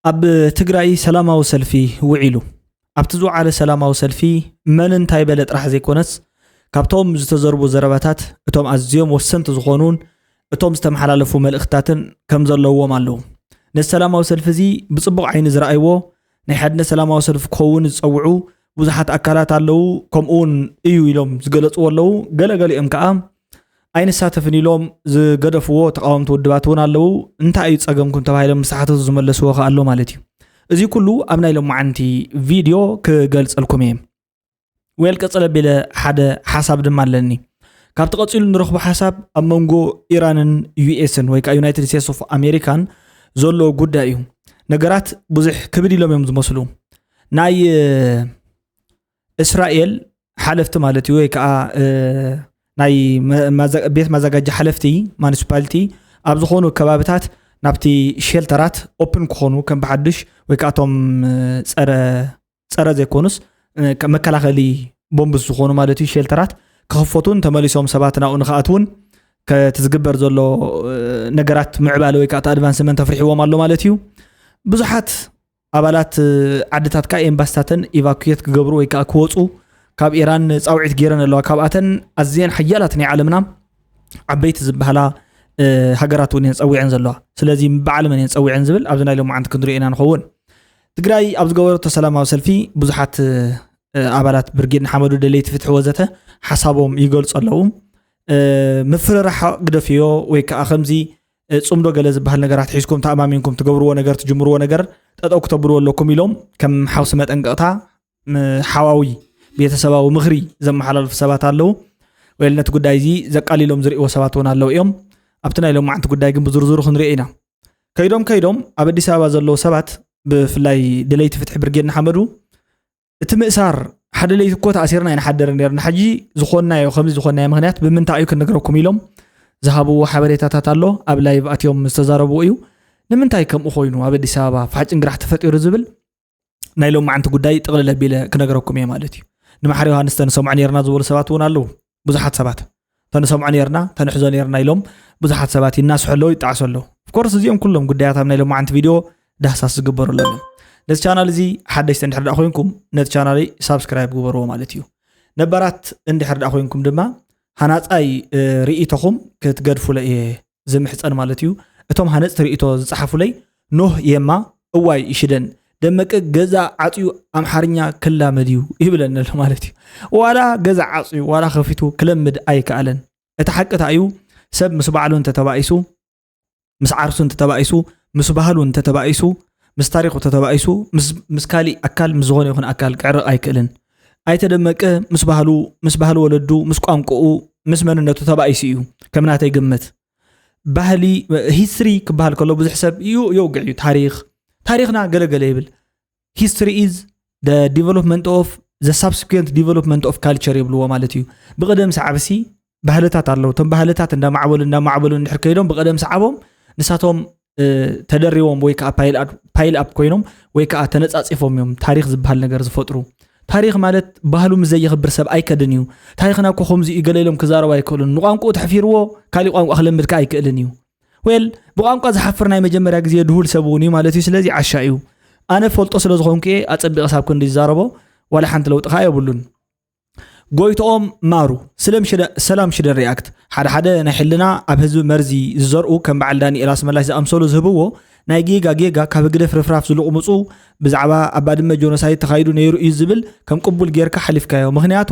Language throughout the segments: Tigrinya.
ኣብ ትግራይ ሰላማዊ ሰልፊ ውዒሉ ኣብቲ ዝወዓለ ሰላማዊ ሰልፊ መን እንታይ በለ ጥራሕ ዘይኮነስ ካብቶም ዝተዘርቡ ዘረባታት እቶም ኣዝዮም ወሰንቲ ዝኾኑን እቶም ዝተመሓላለፉ መልእኽትታትን ከም ዘለዎም ኣለዉ ነዚ ሰላማዊ ሰልፊ እዚ ብፅቡቕ ዓይኒ ዝረኣይዎ ናይ ሓድነት ሰላማዊ ሰልፊ ክኸውን ዝፀውዑ ብዙሓት ኣካላት ኣለዉ ከምኡ እውን እዩ ኢሎም ዝገለፅዎ ኣለዉ ገለገሊኦም ከዓ ኣይንሳተፍን ኢሎም ዝገደፍዎ ተቃወምቲ ውድባት እውን ኣለዉ እንታይ እዩ ፀገምኩም ተባሂሎም ምሳሓተቱ ዝመለስዎ ከ ኣሎ ማለት እዩ እዚ ኩሉ ኣብ ናይ ሎማዓንቲ ቪድዮ ክገልፀልኩም እየ ወል ቀፅለ ቢለ ሓደ ሓሳብ ድማ ኣለኒ ካብቲ ቀፂሉ ንረኽቦ ሓሳብ ኣብ መንጎ ኢራንን ዩኤስን ወይ ከዓ ዩናይትድ ስቴትስ ኦፍ ኣሜሪካን ዘሎ ጉዳይ እዩ ነገራት ብዙሕ ክብድ ኢሎም እዮም ዝመስሉ ናይ እስራኤል ሓለፍቲ ማለት እዩ ወይ ከዓ ናይ ቤት መዘጋጃ ሓለፍቲ ማኒስፓሊቲ ኣብ ዝኾኑ ከባቢታት ናብቲ ሸልተራት ኦፕን ክኾኑ ከም ብሓዱሽ ወይ ከዓ እቶም ፀረ ፀረ ዘይኮኑስ መከላኸሊ ቦምብስ ዝኾኑ ማለት እዩ ሼልተራት ክኽፈቱን ተመሊሶም ሰባት ናብኡ ንክኣትውን ከቲ ዝግበር ዘሎ ነገራት ምዕባለ ወይ ከዓ ኣድቫንስመንት ኣፍሪሕዎም ኣሎ ማለት እዩ ብዙሓት ኣባላት ዓድታት ከዓ ኤምባስታተን ኢቫኩት ክገብሩ ወይ ከዓ ክወፁ ካብ ኢራን ፃውዒት ገይረን ኣለዋ ካብኣተን ኣዝየን ሓያላት ናይ ዓለምና ዓበይቲ ዝበሃላ ሃገራት እውን እየን ፀዊዐን ዘለዋ ስለዚ በዓል መን እየን ፀዊዐን ዝብል ኣብዚ ናይ ሎማዓንቲ ክንሪኦ ኢና ንኸውን ትግራይ ኣብ ዝገበረቶ ሰላማዊ ሰልፊ ብዙሓት ኣባላት ብርጌድ ንሓመዱ ደለይቲ ፍትሒ ወዘተ ሓሳቦም ይገልፁ ኣለዉ ምፍርራሕ ግደፍዮ ወይ ከዓ ከምዚ ፅምዶ ገለ ዝበሃል ነገራት ሒዝኩም ተኣማሚንኩም ትገብርዎ ነገር ትጅምርዎ ነገር ጠጠው ክተብልዎ ኣለኩም ኢሎም ከም ሓውሲ መጠንቀቕታ ሓዋዊ ቤተሰባዊ ምኽሪ ዘመሓላልፉ ሰባት ኣለዉ ወይ ነቲ ጉዳይ እዚ ዘቃሊሎም ዝርእዎ ሰባት እውን ኣለዉ እዮም ኣብቲ ናይ ሎማዓንቲ ጉዳይ ግን ብዝርዝሩ ክንሪኦ ኢና ከይዶም ከይዶም ኣብ ኣዲስ ኣበባ ዘለዉ ሰባት ብፍላይ ደለይቲ ፍትሒ ብርጌድ ንሓመዱ እቲ ምእሳር ሓደ ለይቲ እኮ ተኣሲርና ይንሓደር ነርና ሕጂ ዝኾናዮ ከምዚ ዝኾናዮ ምክንያት ብምንታይ እዩ ክንነግረኩም ኢሎም ዝሃብዎ ሓበሬታታት ኣሎ ኣብ ላይቭ ኣትዮም ዝተዛረብዎ እዩ ንምንታይ ከምኡ ኮይኑ ኣብ ኣዲስ ኣበባ ፋሕጭን ግራሕ ተፈጢሩ ዝብል ናይ ሎም መዓንቲ ጉዳይ ጥቕልል ኣቢለ ክነገረኩም እየ ማለት እዩ ንማሓር ዮሃንስ ተንሰምዖ ነርና ዝበሉ ሰባት እውን ኣለዉ ብዙሓት ሰባት ተንሰምዖ ነርና ተንሕዞ ነርና ኢሎም ብዙሓት ሰባት ይናስሑ ኣለዉ ይጣዕሱ ኣለዉ ኮርስ እዚኦም ኩሎም ጉዳያት ኣብ ናይ ሎም መዓንቲ ቪድዮ ዳህሳስ ዝግበሩ ኣለዉ ነዚ ቻናል እዚ ሓደሽቲ እንድሕር ዳ ኮይንኩም ነቲ ቻናለይ ሳብስክራይብ ግበርዎ ማለት እዩ ነባራት እንድሕር ዳ ኮይንኩም ድማ ሃናፃይ ርእቶኹም ክትገድፉለ እየ ዝምሕጸን ማለት እዩ እቶም ሃነጽቲ ርእይቶ ዝጸሓፉለይ ኖህ የማ እዋይ ይሽደን ደመቀ ገዛ ዓፅዩ ኣምሓርኛ ክላመድ እዩ ይብለኒ ኣሎ ማለት እዩ ዋላ ገዛ ዓፅዩ ዋላ ከፊቱ ክለምድ ኣይከኣለን እቲ ሓቅታ እዩ ሰብ ምስ ባዕሉ እንተተባኢሱ ምስ ዓርሱ እንተተባኢሱ ምስ ባህሉ እንተተባኢሱ ምስ ታሪኩ ተተባኢሱ ምስ ካሊእ ኣካል ምስ ዝኾነ ይኹን ኣካል ክዕርቕ ኣይክእልን ኣይተ ደመቀ ምስ ባህሉ፣ ምስ ባህሊ ወለዱ፣ ምስ ቋንቁኡ፣ ምስ መንነቱ ተባኢሱ እዩ ከም ናተይ ግምት። ባህሊ ሂስትሪ ክበሃል ከሎ ብዙሕ ሰብ እዩ የውግዕ እዩ ታሪክ ታሪክና ገለገለ ይብል ሂስትሪ ኢዝ ዲቨሎፕመንት ኦፍ ዘ ሳብስኩንት ዲቨሎፕመንት ኦፍ ካልቸር ይብልዎ ማለት እዩ ብቅደም ሳዕብሲ ባህልታት ኣለዉ እቶም ባህልታት እንዳማዕበሉ እንዳማዕበሉ እንድሕር ከይዶም ብቀደም ሰዓቦም ንሳቶም ተደሪቦም ወይ ከዓ ፓይል ኣፕ ኮይኖም ወይ ከዓ ተነፃፂፎም እዮም ታሪክ ዝበሃል ነገር ዝፈጥሩ ታሪክ ማለት ባህሉ ምስ ዘየኽብር ሰብ ኣይከድን እዩ ታሪክና እኮ ከምዚ እዩ ገለ ኢሎም ክዛረቡ ኣይክእሉን ንቋንቁኡ ተሕፊርዎ ካሊእ ቋንቋ ክለምድ ከዓ ኣይክእልን እዩ ወል ብቋንቋ ዝሓፍር ናይ መጀመርያ ግዜ ድሁል ሰብ እውን እዩ ማለት እዩ ስለዚ ዓሻ እዩ ኣነ ፈልጦ ስለ ዝኾንኩ እየ ኣፀቢቐ ሳብ ክንዲ ዝዛረቦ ዋላ ሓንቲ ለውጢ ከዓ የብሉን ጎይትኦም ማሩ ሰላም ሽደ ሪኣክት ሓደ ሓደ ናይ ሕልና ኣብ ህዝቢ መርዚ ዝዘርኡ ከም በዓል ዳንኤል ኣስመላሽ ዝኣምሰሉ ዝህብዎ ናይ ጌጋ ጌጋ ካብ ህግደፍ ርፍራፍ ዝልቕምፁ ብዛዕባ ኣብ ባድመ ጆኖሳይድ ተኻይዱ ነይሩ እዩ ዝብል ከም ቅቡል ጌርካ ሓሊፍካዮ ምክንያቱ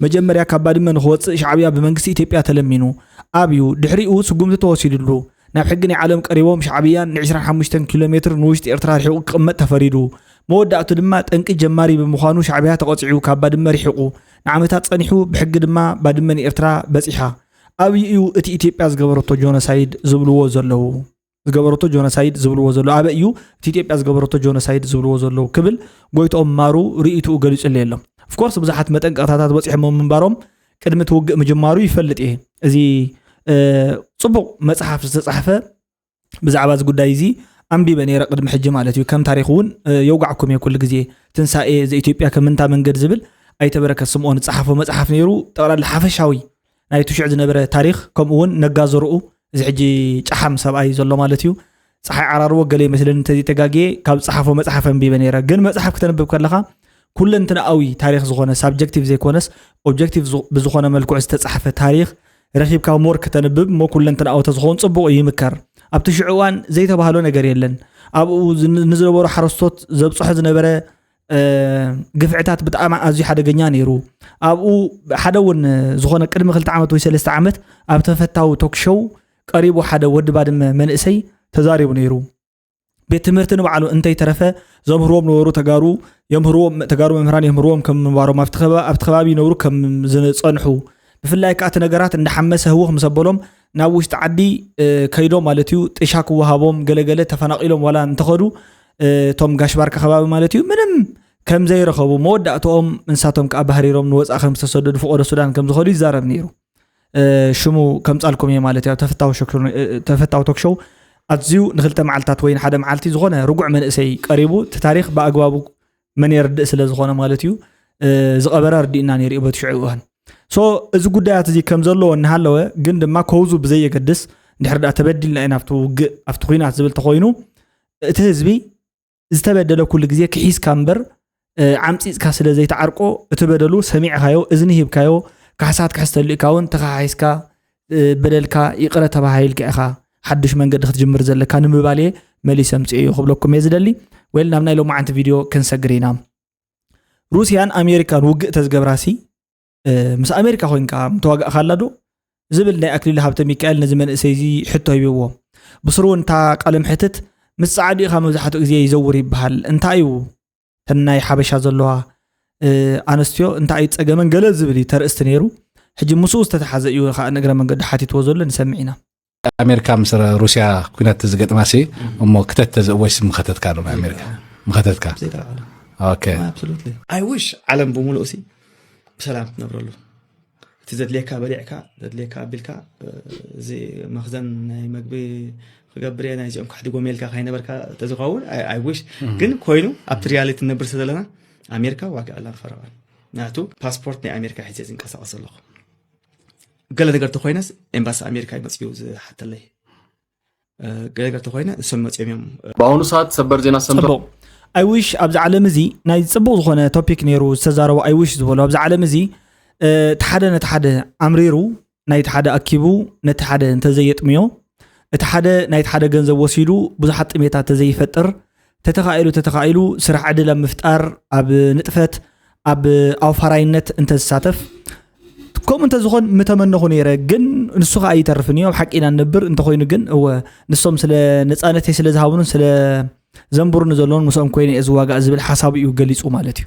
መጀመርያ ካብ ባድመ ንክወፅእ ሻዕብያ ብመንግስቲ ኢትዮጵያ ተለሚኑ ኣብዩ ድሕሪኡ ስጉምቲ ተወሲድሉ ናብ ሕጊ ናይ ዓለም ቀሪቦም ሻዕብያን ንዕስራን ሓሙሽተን ኪሎ ሜትር ንውሽጢ ኤርትራ ርሒቑ ክቕመጥ ተፈሪዱ። መወዳእቱ ድማ ጠንቂ ጀማሪ ብምዃኑ ሻዕብያ ተቐጺዑ ካብ ባድመ ርሒቑ ንዓመታት ጸኒሑ ብሕጊ ድማ ባድመ ንኤርትራ በጺሓ። ኣብይ እዩ እቲ ኢትዮጵያ ዝገበረቶ ጆኖሳይድ ዝብልዎ ዘለዉ? ዝገበረቶ ጆኖሳይድ ዝብልዎ ዘለዉ ኣበይ እዩ እቲ ኢትዮጵያ ዝገበረቶ ጆኖሳይድ ዝብልዎ ዘለዉ ክብል ጎይትኦም ማሩ ርእይትኡ ገሊጹለይ ኣሎ። ኦፍኮርስ ብዙሓት መጠንቀቕታታት በጺሖሞ ምንባሮም ቅድሚ እቲ ውግእ ምጅማሩ ይፈልጥ እየ እዚ ፅቡቕ መፅሓፍ ዝተፃሕፈ ብዛዕባ እዚ ጉዳይ እዚ ኣንቢበ ነረ ቅድሚ ሕጂ ማለት እዩ ከም ታሪክ እውን የውጋዕኩም እየ ኩሉ ግዜ ትንሳኤ ዘኢትዮጵያ ከምንታ መንገድ ዝብል ኣይተበረከት ስምኦን ዝፀሓፎ መፅሓፍ ነይሩ ጠቕላላ ሓፈሻዊ ናይቲ ሽዑ ዝነበረ ታሪክ ከምኡ እውን ነጋዘርኡ እዚ ሕጂ ጫሓም ሰብኣይ ዘሎ ማለት እዩ ፀሓይ ዓራርቦ ገለ ይመስለኒ እንተዘይተጋግየ ካብ ዝፀሓፎ መፅሓፍ ኣንቢበ ነይረ ግን መፅሓፍ ክተንብብ ከለካ ኩለንትንኣዊ ታሪክ ዝኮነ ሳብጀክቲቭ ዘይኮነስ ኦብጀክቲቭ ብዝኮነ መልክዑ ዝተፃሓፈ ታሪክ ረኪብካ ሞር ክተንብብ እሞ ኩለንትንኣዊ ተዝኸውን ፅቡቅ እዩ ይምከር ኣብቲ ሽዑ እዋን ዘይተባህሎ ነገር የለን ኣብኡ ንዝነበሩ ሓረስቶት ዘብፅሖ ዝነበረ ግፍዕታት ብጣዕሚ ኣዝዩ ሓደገኛ ነይሩ ኣብኡ ሓደ እውን ዝኾነ ቅድሚ ክልተ ዓመት ወይ ሰለስተ ዓመት ኣብ ተፈታዊ ቶክሾው ቀሪቡ ሓደ ወዲ ባድመ መንእሰይ ተዛሪቡ ነይሩ ቤት ትምህርቲ ንባዕሉ እንተይተረፈ ዘምህርዎም ነበሩ ተጋሩ የምህርዎም ተጋሩ መምህራን የምህርዎም ከም ምንባሮም ኣብቲ ከባቢ ይነብሩ ከም ዝፀንሑ ብፍላይ ከዓ እቲ ነገራት እንዳሓመሰ ህውኽ ምስ ኣበሎም ናብ ውሽጢ ዓዲ ከይዶም ማለት እዩ ጥሻ ክወሃቦም ገለገለ ተፈናቂሎም ዋላ እንተኸዱ እቶም ጋሽ ባርካ ከባቢ ማለት እዩ ምንም ከም ዘይረኸቡ መወዳእትኦም እንሳቶም ከዓ ባህሪሮም ንወፃእ ከም ዝተሰደዱ ፍቆዶ ሱዳን ከም ዝኸዱ ይዛረብ ነይሩ ሽሙ ከምፃልኩም እየ ማለት እዩ ተፈታዊ ቶክሾው ኣዝዩ ንክልተ መዓልትታት ወይ ሓደ መዓልቲ ዝኾነ ርጉዕ መንእሰይ ቀሪቡ እቲ ታሪክ ብኣግባቡ መን የርድእ ስለ ዝኾነ ማለት እዩ ዝቐበረ ኣርዲእና ነይሩ እዩ በቲ ሽዑ እዋን ሶ እዚ ጉዳያት እዚ ከም ዘለዎ እናሃለወ ግን ድማ ከውዙ ብዘየገድስ እንድሕር ዳ ተበዲልና ኢና ኣብቲ ውግእ ኣብቲ ኩናት ዝብል ተኮይኑ እቲ ህዝቢ ዝተበደለ ኩሉ ግዜ ክሒስካ እምበር ዓምፂፅካ ስለ ዘይትዓርቆ እቲ በደሉ ሰሚዕኻዮ እዝኒ ሂብካዮ ካሕሳት ክሕሰሉ ኢካ እውን ተኸሓሒስካ በደልካ ይቕረ ተባሂልካ ኢኻ ሓዱሽ መንገዲ ክትጅምር ዘለካ ንምባል እየ መሊሰ ምፅኦ ክብለኩም እየ ዝደሊ ወይ ናብ ናይ ሎማዓንቲ ቪድዮ ክንሰግር ኢና ሩስያን ኣሜሪካን ውግእ ተዝገብራሲ ምስ ኣሜሪካ ኮንካ ምተዋጋእካላ ዶ ዝብል ናይ ኣክሊሉ ሃብተ ሚካኤል ነዚ መንእሰይ እዚ ሕቶ ሂብዎ ብስሩ እውን እታ ቃለ ምሕትት ምስ ፃዓዱ ኢኻ መብዛሕትኡ ግዜ ይዘውር ይበሃል እንታይ እዩ ተናይ ሓበሻ ዘለዋ ኣነስትዮ እንታይ እዩ ፀገመን ገለ ዝብል እዩ ተርእስቲ ነይሩ ሕጂ ምስኡ ዝተተሓዘ እዩ ከዓ ንእግረ መንገዱ ሓቲትዎ ዘሎ ንሰምዕ ኢና ኣሜሪካ ምስ ሩስያ ኩናት ተዝገጥማ ሲ እሞ ክተት ተዝእወሽ ምኸተትካ ዶ ኣሜሪካ ምኸተትካ ኣይውሽ ዓለም ብምሉእ ሲ ብሰላም ትነብረሉ እቲ ዘድልየካ በሊዕካ ዘድልየካ ኣቢልካ እዚ መክዘን ናይ መግቢ ክገብር ናይ እዚኦም ካሕዲ ጎሜልካ ካይነበርካ ተዝኸውን ኣይውሽ ግን ኮይኑ ኣብቲ ሪያሊቲ ነብር ስለዘለና ኣሜሪካ ዋጋ ዕላን ፈረቓን ናቱ ፓስፖርት ናይ ኣሜሪካ ሒዘ ዝንቀሳቀስ ኣለኹ ገለ ነገር ተኮይነስ ኤምባሲ ኣሜሪካ እዩ መፅኡ ዝሓተለይ ገለ ነገር ተኮይነ እሶም መፅኦም እዮም ብኣሁኑ ሰዓት ሰበር ዜና ሰምቶ ፅቡቅ ኣይዊሽ ኣብዚ ዓለም እዚ ናይ ፅቡቅ ዝኮነ ቶፒክ ነይሩ ዝተዛረቡ ኣይዊሽ ዝበሉ ኣብዚ ዓለም እዚ እቲ ሓደ ነቲ ሓደ ኣምሪሩ ናይቲ ሓደ ኣኪቡ ነቲ ሓደ እንተዘየጥምዮ እቲ ሓደ ናይቲ ሓደ ገንዘብ ወሲዱ ብዙሓት ጥሜታት ተዘይፈጥር ተተኻኢሉ ተተኻኢሉ ስራሕ ዕድል ኣብ ምፍጣር ኣብ ንጥፈት ኣብ ኣውፋራይነት እንተዝሳተፍ ከምኡ እንተዝኾን ምተመነኹ ነይረ ግን ንሱ ከዓ ይተርፍን እዩ ኣብ ሓቂ ኢና ንነብር እንተኮይኑ ግን እወ ንሶም ስለ ነፃነተይ ስለ ዝሃብኑን ስለ ዘንብሩኒ ዘለውን ምስኦም ኮይነ እየ ዝዋጋእ ዝብል ሓሳቡ እዩ ገሊፁ ማለት እዩ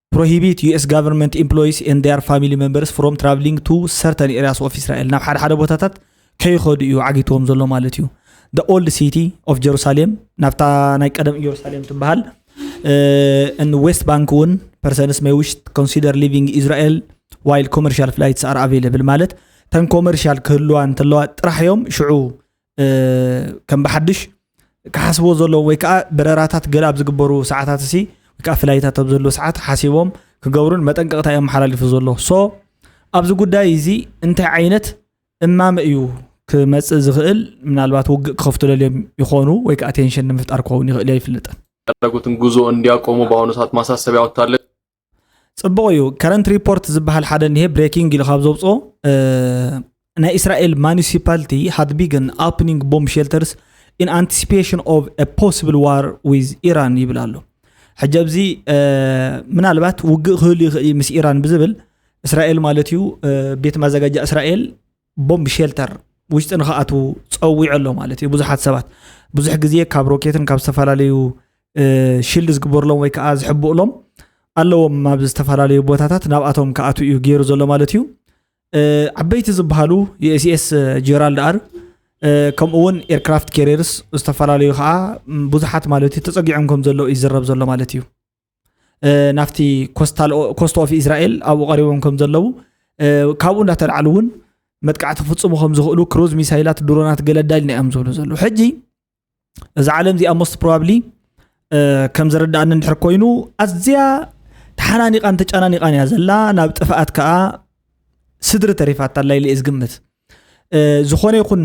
ፕሮሂቢት ዩኤስ ጋቨርንመንት ኢምፕሎይስ ኤንድ ዴር ፋሚሊ ሜምበርስ ፍሮም ትራቭሊንግ ቱ ሰርተን ኤሪያስ ኦፍ እስራኤል ናብ ሓደ ሓደ ቦታታት ከይኸዱ እዩ ዓጊትዎም ዘሎ ማለት እዩ ደ ኦልድ ሲቲ ኦፍ ጀሩሳሌም ናብታ ናይ ቀደም ኢየሩሳሌም ትበሃል ን ዌስት ባንክ እውን ፐርሰንስ ሜይ ዊሽ ኮንሲደር ሊቪንግ ኢስራኤል ዋይል ኮመርሻል ፍላይትስ ኣር ኣቬለብል ማለት ተን ኮመርሻል ክህልዋ እንተለዋ ጥራሕ እዮም ሽዑ ከም ብሓድሽ ክሓስብዎ ዘለዎም ወይ ከዓ በረራታት ገለ ኣብ ዝግበሩ ሰዓታት እሲ ወይ ከዓ ፍላይታት ኣብ ዘለዎ ሰዓት ሓሲቦም ክገብሩን መጠንቀቕታ እዮም ሓላሊፉ ዘሎ ሶ ኣብዚ ጉዳይ እዚ እንታይ ዓይነት እማመ እዩ ክመፅእ ዝኽእል ምናልባት ውግእ ክኸፍቱ ደልዮም ይኾኑ ወይ ከዓ ቴንሽን ንምፍጣር ክኸውን ይኽእል እዮ ኣይፍልጥን ያደረጉትን ጉዞ እንዲያቆሙ በአሁኑ ሰዓት ማሳሰቢያ ወጥታለች። ጽቡቕ እዩ ከረንት ሪፖርት ዝበሃል ሓደ እኒሄ ብሬኪንግ ኢሉ ካብ ዘውፅኦ ናይ እስራኤል ማኒሲፓልቲ ሃድ ቢግን ኣፕኒንግ ቦምብ ሼልተርስ ኢን ኣንቲሲፔሽን ኦፍ ፖስብል ዋር ዊዝ ኢራን ይብል ኣሎ ሕጂ ኣብዚ ምናልባት ውግእ ክህሉ ይኽእል ምስ ኢራን ብዝብል እስራኤል ማለት እዩ ቤት ማዘጋጃ እስራኤል ቦምብ ሼልተር ውሽጢ ንክኣትዉ ፀዊዑ ኣሎ ማለት እዩ ብዙሓት ሰባት ብዙሕ ግዜ ካብ ሮኬትን ካብ ዝተፈላለዩ ሽልድ ዝግበርሎም ወይ ከዓ ዝሕብእሎም ኣለዎም ኣብ ዝተፈላለዩ ቦታታት ናብኣቶም ክኣትው እዩ ገይሩ ዘሎ ማለት እዩ ዓበይቲ ዝበሃሉ ዩኤስኤስ ጀራልድ ኣር ከምኡ እውን ኤርክራፍት ኬሪርስ ዝተፈላለዩ ከዓ ብዙሓት ማለት እዩ ተፀጊዖም ከም ዘሎ ይዝረብ ዘሎ ማለት እዩ ናብቲ ኮስት ኦፍ እስራኤል ኣብኡ ቀሪቦም ከም ዘለዉ ካብኡ እንዳተላዕሉ እውን መጥቃዕቲ ክፍፅሙ ከም ዝኽእሉ ክሩዝ ሚሳይላት ድሮናት ገለ ኣዳልና እዮም ዝብሉ ዘለዉ ሕጂ እዚ ዓለም እዚኣ ሞስት ፕሮባብሊ ከም ዝርዳእኒ እንድሕር ኮይኑ ኣዝያ ተሓናኒቓን ተጨናኒቓን እያ ዘላ ናብ ጥፍኣት ከዓ ስድሪ ተሪፋታ ኣላ ኢለ ዝግምት ዝኾነ ይኹን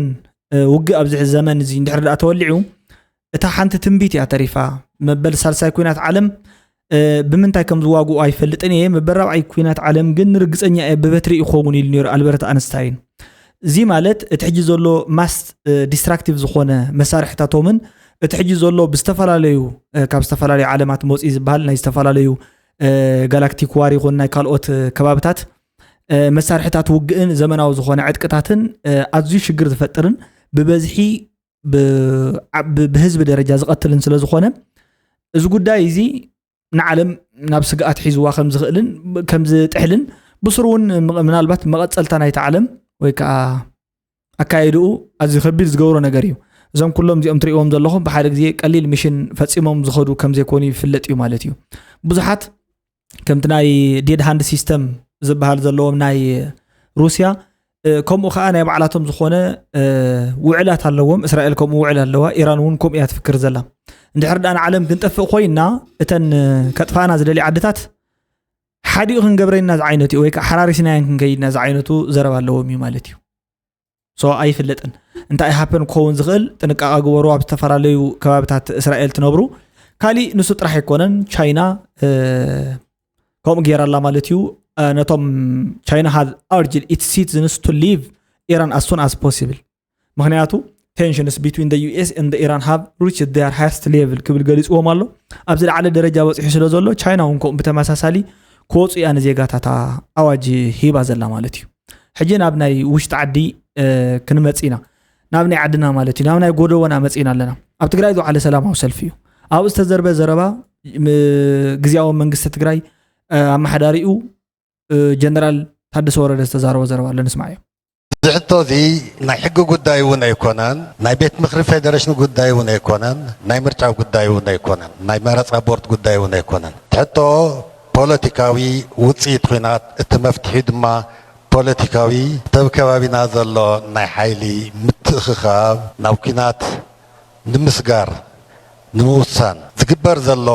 ውግእ ኣብዚ ዘመን እዚ እንድሕር ዳኣ ተወሊዑ እታ ሓንቲ ትንቢት እያ ተሪፋ መበል ሳልሳይ ኩናት ዓለም ብምንታይ ከም ዝዋግኡ ኣይፈልጥን እየ መበል ራብዓይ ኩናት ዓለም ግን ንርግፀኛ እየ ብበትሪ ይኸውን ኢሉ ነሩ ኣልበርት ኣንስታይን እዚ ማለት እቲ ሕጂ ዘሎ ማስ ዲስትራክቲቭ ዝኾነ መሳርሕታቶምን እቲ ሕጂ ዘሎ ብዝተፈላለዩ ካብ ዝተፈላለዩ ዓለማት መፅኢ ዝበሃል ናይ ዝተፈላለዩ ጋላክቲክ ዋር ይኹን ናይ ካልኦት ከባብታት መሳርሕታት ውግእን ዘመናዊ ዝኾነ ዕጥቅታትን ኣዝዩ ሽግር ዝፈጥርን ብበዝሒ ብህዝቢ ደረጃ ዝቐትልን ስለ ዝኾነ እዚ ጉዳይ እዚ ንዓለም ናብ ስግኣት ሒዝዋ ከም ዝኽእልን ከም ዝጥሕልን ብስሩ እውን ምናልባት መቐፀልታ ናይቲ ዓለም ወይ ከዓ ኣካየድኡ ኣዝዩ ከቢድ ዝገብሮ ነገር እዩ እዞም ኩሎም እዚኦም ትሪእዎም ዘለኹም ብሓደ ግዜ ቀሊል ሚሽን ፈፂሞም ዝኸዱ ከም ዘይኮኑ ይፍለጥ እዩ ማለት እዩ ብዙሓት ከምቲ ናይ ዴድ ሃንድ ሲስተም ዝበሃል ዘለዎም ናይ ሩስያ ከምኡ ከዓ ናይ ባዕላቶም ዝኾነ ውዕላት ኣለዎም እስራኤል ከምኡ ውዕል ኣለዋ ኢራን እውን ከምኡ እያ ትፍክር ዘላ እንድሕር ዳኣ ንዓለም ክንጠፍእ ኮይና እተን ከጥፋእና ዝደሊ ዓድታት ሓዲኡ ክንገብረና ዝዓይነቱ እዩ ወይ ከዓ ሓራሪስናያን ክንከይድና ዝዓይነቱ ዘረባ ኣለዎም እዩ ማለት እዩ ሶ ኣይፍለጥን እንታይ ሃፐን ክኸውን ዝኽእል ጥንቃቐ ግበሩ ኣብ ዝተፈላለዩ ከባቢታት እስራኤል ትነብሩ ካሊእ ንሱ ጥራሕ ኣይኮነን ቻይና ከምኡ ገይራ ኣላ ማለት እዩ ነቶም ቻይና ሃዝ ኣርጅድ ኢት ሲቲዝንስ ቱ ሊቭ ኢራን ኣስ ሱን ኣስ ፖሲብል ምክንያቱ ቴንሽንስ ቢትዊን ዩኤስ ን ኢራን ሃብ ሪች ር ሃርስት ሌቭል ክብል ገሊፅዎም ኣሎ ኣብዚ ላዕለ ደረጃ በፂሑ ስለ ዘሎ ቻይና እውን ከምኡ ብተመሳሳሊ ክወፁ እያ ንዜጋታታ ኣዋጅ ሂባ ዘላ ማለት እዩ ሕጂ ናብ ናይ ውሽጢ ዓዲ ክንመፅ ኢና ናብ ናይ ዓድና ማለት እዩ ናብ ናይ ጎደቦና መፅና ኣለና ኣብ ትግራይ ዝውዓለ ሰላማዊ ሰልፊ እዩ ኣብኡ ዝተዘርበ ዘረባ ግዜያዊ መንግስቲ ትግራይ ኣመሓዳሪኡ ጀነራል ታደሰ ወረደ ዝተዛረቦ ዘረባ ኣሎ ንስማዕ እዮም እዚ ሕቶ እዚ ናይ ሕጊ ጉዳይ እውን ኣይኮነን ናይ ቤት ምክሪ ፌደሬሽን ጉዳይ እውን ኣይኮነን ናይ ምርጫ ጉዳይ እውን ኣይኮነን ናይ መረፃ ቦርድ ጉዳይ እውን ኣይኮነን ትሕቶ ፖለቲካዊ ውጽኢት ኹናት እቲ መፍትሒ ድማ ፖለቲካዊ ተብ ከባቢና ዘሎ ናይ ሓይሊ ምትእኽኻብ ናብ ኲናት ንምስጋር ንምውሳን ዝግበር ዘሎ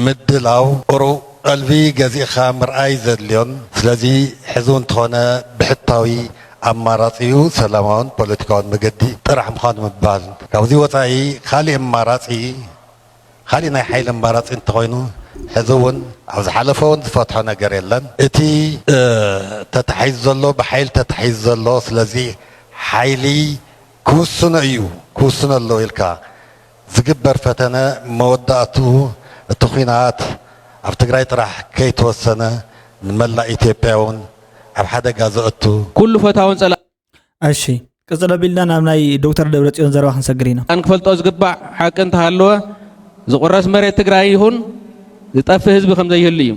ምድላው ቁሩብ ቐልቢ ገዚእኻ ምርኣይ ዘድልዮን ስለዚ ሕዚ ውን ተኾነ ብሕታዊ ኣማራጺኡ ሰላማውን ፖለቲካውን መገዲ ጥራሕ ምዃኑ ምባል ካብዚ ወጻኢ ኻሊእ ኣማራጺ ኻሊእ ናይ ሓይሊ ኣማራፂ እንተኾይኑ ሕዚ ውን ኣብ ዝሓለፈ ውን ዝፈትሖ ነገር የለን እቲ ተታሒዙ ዘሎ ብሓይሊ ተታሒዙ ዘሎ ስለዚ ሓይሊ ክውስኖ እዩ ክውስኖ ኣለዎ ኢልካ ዝግበር ፈተነ መወዳእትኡ እቲ ኹናት ኣብ ትግራይ ጥራሕ ከይተወሰነ ንመላእ ኢትዮጵያ ውን ኣብ ሓደጋ ዘእቱ ኩሉ ፈታውን ፀላእን እሺ ቅፅል ኣቢልና ናብ ናይ ዶክተር ደብረፅዮን ዘረባ ክንሰግር ኢና ክንፈልጦ ዝግባእ ሓቂ እንተሃለወ ዝቑረስ መሬት ትግራይ ይኹን ዝጠፍእ ህዝቢ ከም ዘይህሉ እዩ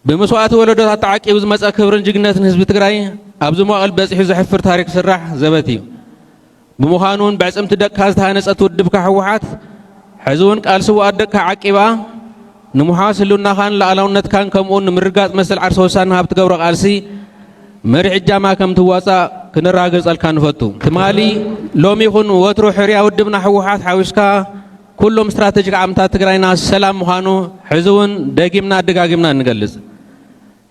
ብመስዋእቲ ወለዶታት ተዓቂቡ ዝመፀ ክብርን ጅግነትን ህዝቢ ትግራይ ኣብዚ መዋእል በፂሑ ዘሕፍር ታሪክ ስራሕ ዘበት እዩ ብምዃኑ ውን ብዕጽምቲ ደቅካ ዝተሃነጸት ውድብካ ህወሓት ሕዚ ውን ቃል ስውኣት ደቅካ ዓቂባ ንምሓዝ ህልውናኻን ላኣላውነትካን ከምኡውን ንምርጋጽ መሰል ዓርሰ ውሳነ ሃብ ትገብሮ ቃልሲ መሪሕ እጃማ ከም ትዋጻእ ክነራግርጸልካ ንፈቱ። ትማሊ ሎሚ ይኹን ወትሩ ሕርያ ውድብና ህወሓት ሓዊስካ ኩሎም ስትራተጂክ ዓምታት ትግራይና ሰላም ምዃኑ ሕዚ ውን ደጊምና ደጋጊምና ንገልጽ።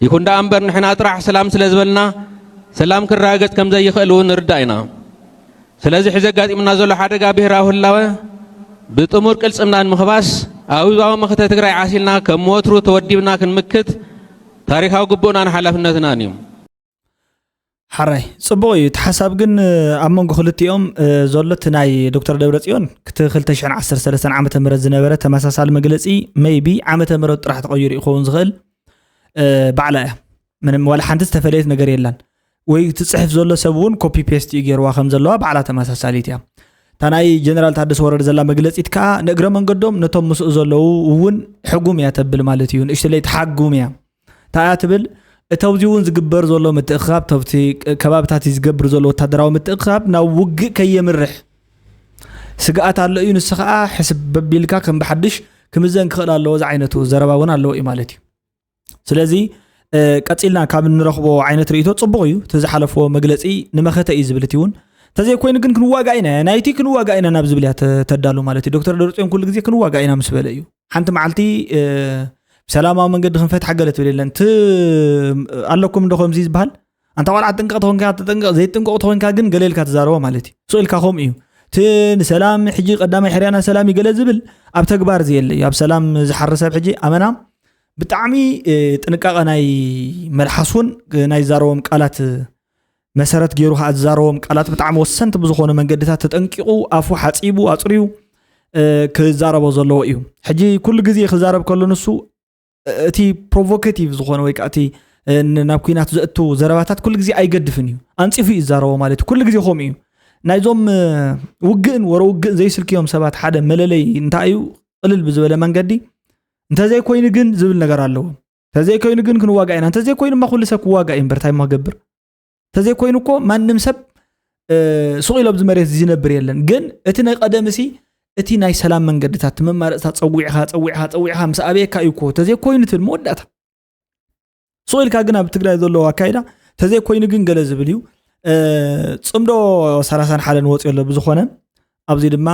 ይኹን ደኣ እምበር ንሕና ጥራሕ ሰላም ስለ ዝበልና ሰላም ክረጋገጽ ከም ዘይኽእል እውን ንርዳእ ኢና። ስለዚ ሕዚ ኣጋጢሙና ዘሎ ሓደጋ ብሄራዊ ህላወ ብጥሙር ቅልጽምና ንምኽባስ ኣብ ህዝባዊ መኸተ ትግራይ ዓሲልና ከም ወትሩ ተወዲብና ክንምክት ታሪኻዊ ግቡእናን ሓላፍነትናን እዩ። ሓራይ ጽቡቕ እዩ እቲ ሓሳብ ግን ኣብ መንጎ ክልቲኦም ዘሎ እቲ ናይ ዶክተር ደብረጽዮን ክቲ 213 ዓ ም ዝነበረ ተመሳሳሊ መግለፂ መይቢ ዓመተ ምረት ጥራሕ ተቐይሩ ይኸውን ዝኽእል ባዕላ እያ ምንም ዋላ ሓንቲ ዝተፈለየት ነገር የላን ወይ ትፅሕፍ ዘሎ ሰብ እውን ኮፒ ፔስት እዩ ገይርዋ ከም ዘለዋ ባዕላ ተመሳሳሊት እያ እታ ናይ ጀነራል ታደሰ ወረደ ዘላ መግለፂት ከዓ ንእግረ መንገዶም ነቶም ምስኡ ዘለዉ እውን ሕጉም እያ ተብል ማለት እዩ ንእሽተለይ ትሓጉም እያ እንታይ እያ ትብል? እቲ ኣብዚ እውን ዝግበር ዘሎ ምትእኽኻብ ተብቲ ከባብታት ዝገብር ዘሎ ወታደራዊ ምትእኽኻብ ናብ ውግእ ከየምርሕ ስግኣት ኣሎ እዩ ንስ ከዓ ሕስብ በቢልካ ከም ብሓድሽ ክምዘን ክኽእል ኣለዎ ዝዓይነቱ ዘረባ እውን ኣለዎ እዩ ማለት እዩ ስለዚ ቀፂልና ካብ እንረኽቦ ዓይነት ርእቶ ፅቡቅ እዩ እቲ ዝሓለፍዎ መግለፂ ንመኸተ እዩ ዝብል እቲ እውን እንተዘይኮይኑ ግን ክንዋጋእ ኢና ናይቲ ክንዋጋእ ኢና ናብ ዝብል እያ ተዳሉ ማለት እዩ ዶክተር ደርፅዮን ኩሉ ግዜ ክንዋጋእ ኢና ምስ በለ እዩ ሓንቲ መዓልቲ ብሰላማዊ መንገዲ ክንፈትሓ ገለ ትብል የለን እቲ ኣለኩም እንዶ ከምዚ ዝበሃል ኣንታ ቆልዓ ጥንቅቕ ተኮንካ ተጠንቅቕ ዘይጥንቅቕ ተኮንካ ግን ገለ ኢልካ ትዛረቦ ማለት እዩ ስእልካ ከምኡ እዩ እቲ ንሰላም ሕጂ ቀዳማይ ሕርያና ሰላም እዩ ገለ ዝብል ኣብ ተግባር ዘየለ እዩ ኣብ ሰላም ዝሓር ሰብ ሕጂ ኣመና ብጣዕሚ ጥንቃቐ ናይ መልሓስ እውን ናይ ዛረቦም ቃላት መሰረት ገይሩ ከዓ ዝዛረቦም ቃላት ብጣዕሚ ወሰንቲ ብዝኾኑ መንገድታት ተጠንቂቑ ኣፉ ሓፂቡ ኣፅርዩ ክዛረቦ ዘለዎ እዩ ሕጂ ኩሉ ግዜ ክዛረብ ከሎ ንሱ እቲ ፕሮቮካቲቭ ዝኾነ ወይ ከዓ እቲ ናብ ኩናት ዘእቱ ዘረባታት ኩሉ ግዜ ኣይገድፍን እዩ ኣንፂፉ እዩ ዝዛረቦ ማለት እዩ ኩሉ ግዜ ከምኡ እዩ ናይዞም ውግእን ወረ ውግእን ዘይስልክዮም ሰባት ሓደ መለለይ እንታይ እዩ ቅልል ብዝበለ መንገዲ እንተዘይኮይኑ ግን ዝብል ነገር ኣለዎም ተዘይኮይኑ ግን ክንዋጋእ ኢና እንተዘይኮይኑማ ኩሉ ሰብ ክዋጋእ እዩ እምበር እንታይ ማገብር እንተዘይኮይኑ እኮ ማንም ሰብ ሱቕ ኢሎ ኣብዚ መሬት ዝነብር የለን ግን እቲ ናይ ቀደም እሲ እቲ ናይ ሰላም መንገድታት እቲ መማረፅታት ፀዊዕኻ ፀዊዕኻ ፀዊዕኻ ምስ ኣበየካ እዩ እኮ ተዘይኮይኑ ትብል መወዳእታ ሱቕ ኢልካ ግን ኣብ ትግራይ ዘለዎ ኣካይዳ ተዘይኮይኑ ግን ገለ ዝብል እዩ ፅምዶ ሰላሳን ሓደን ወፂኦ ኣሎ ብዝኾነ ኣብዚ ድማ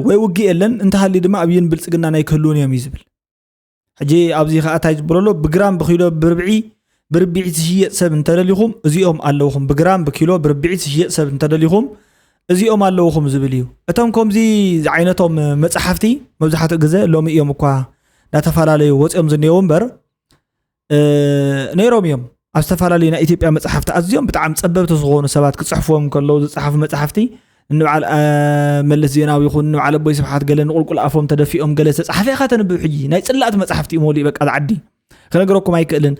ወይ ውግእ የለን እንተሃልዩ ድማ ኣብይን ብልፅግና ናይ ክህልውን እዮም እዩ ዝብል ሕጂ ኣብዚ ከኣ እንታይ ዝብሎ ኣሎ ብግራም ብኪሎ ብርብዒ ብርብዒት ዝሽየጥ ሰብ እንተደሊኹም እዚኦም ኣለውኹም ብግራም ብኪሎ ብርብዒት ዝሽየጥ ሰብ እንተደሊኹም እዚኦም ኣለውኹም ዝብል እዩ እቶም ከምዚ ዝዓይነቶም መፅሓፍቲ መብዛሕትኡ ግዘ ሎሚ እዮም እኳ እናተፈላለዩ ወፂኦም ዝኔው እምበር ነይሮም እዮም ኣብ ዝተፈላለዩ ናይ ኢትዮጵያ መፅሓፍቲ ኣዝዮም ብጣዕሚ ፀበብቲ ዝኾኑ ሰባት ክፅሕፍዎም ከለዉ ዝፀሓፉ መፅሓፍቲ ንበዓል መለስ ዜናዊ ይኹን ንበዓል ኣቦይ ስብሓት ገለ ንቁልቁል ኣፎም ተደፊኦም ገለ ዝተፃሓፈ ኢኻ ተንብብ ሕጂ ናይ ፅላእቲ መፅሓፍቲ እዩ መሊኡ በቃ ዝዓዲ ክነገረኩም ኣይክእልን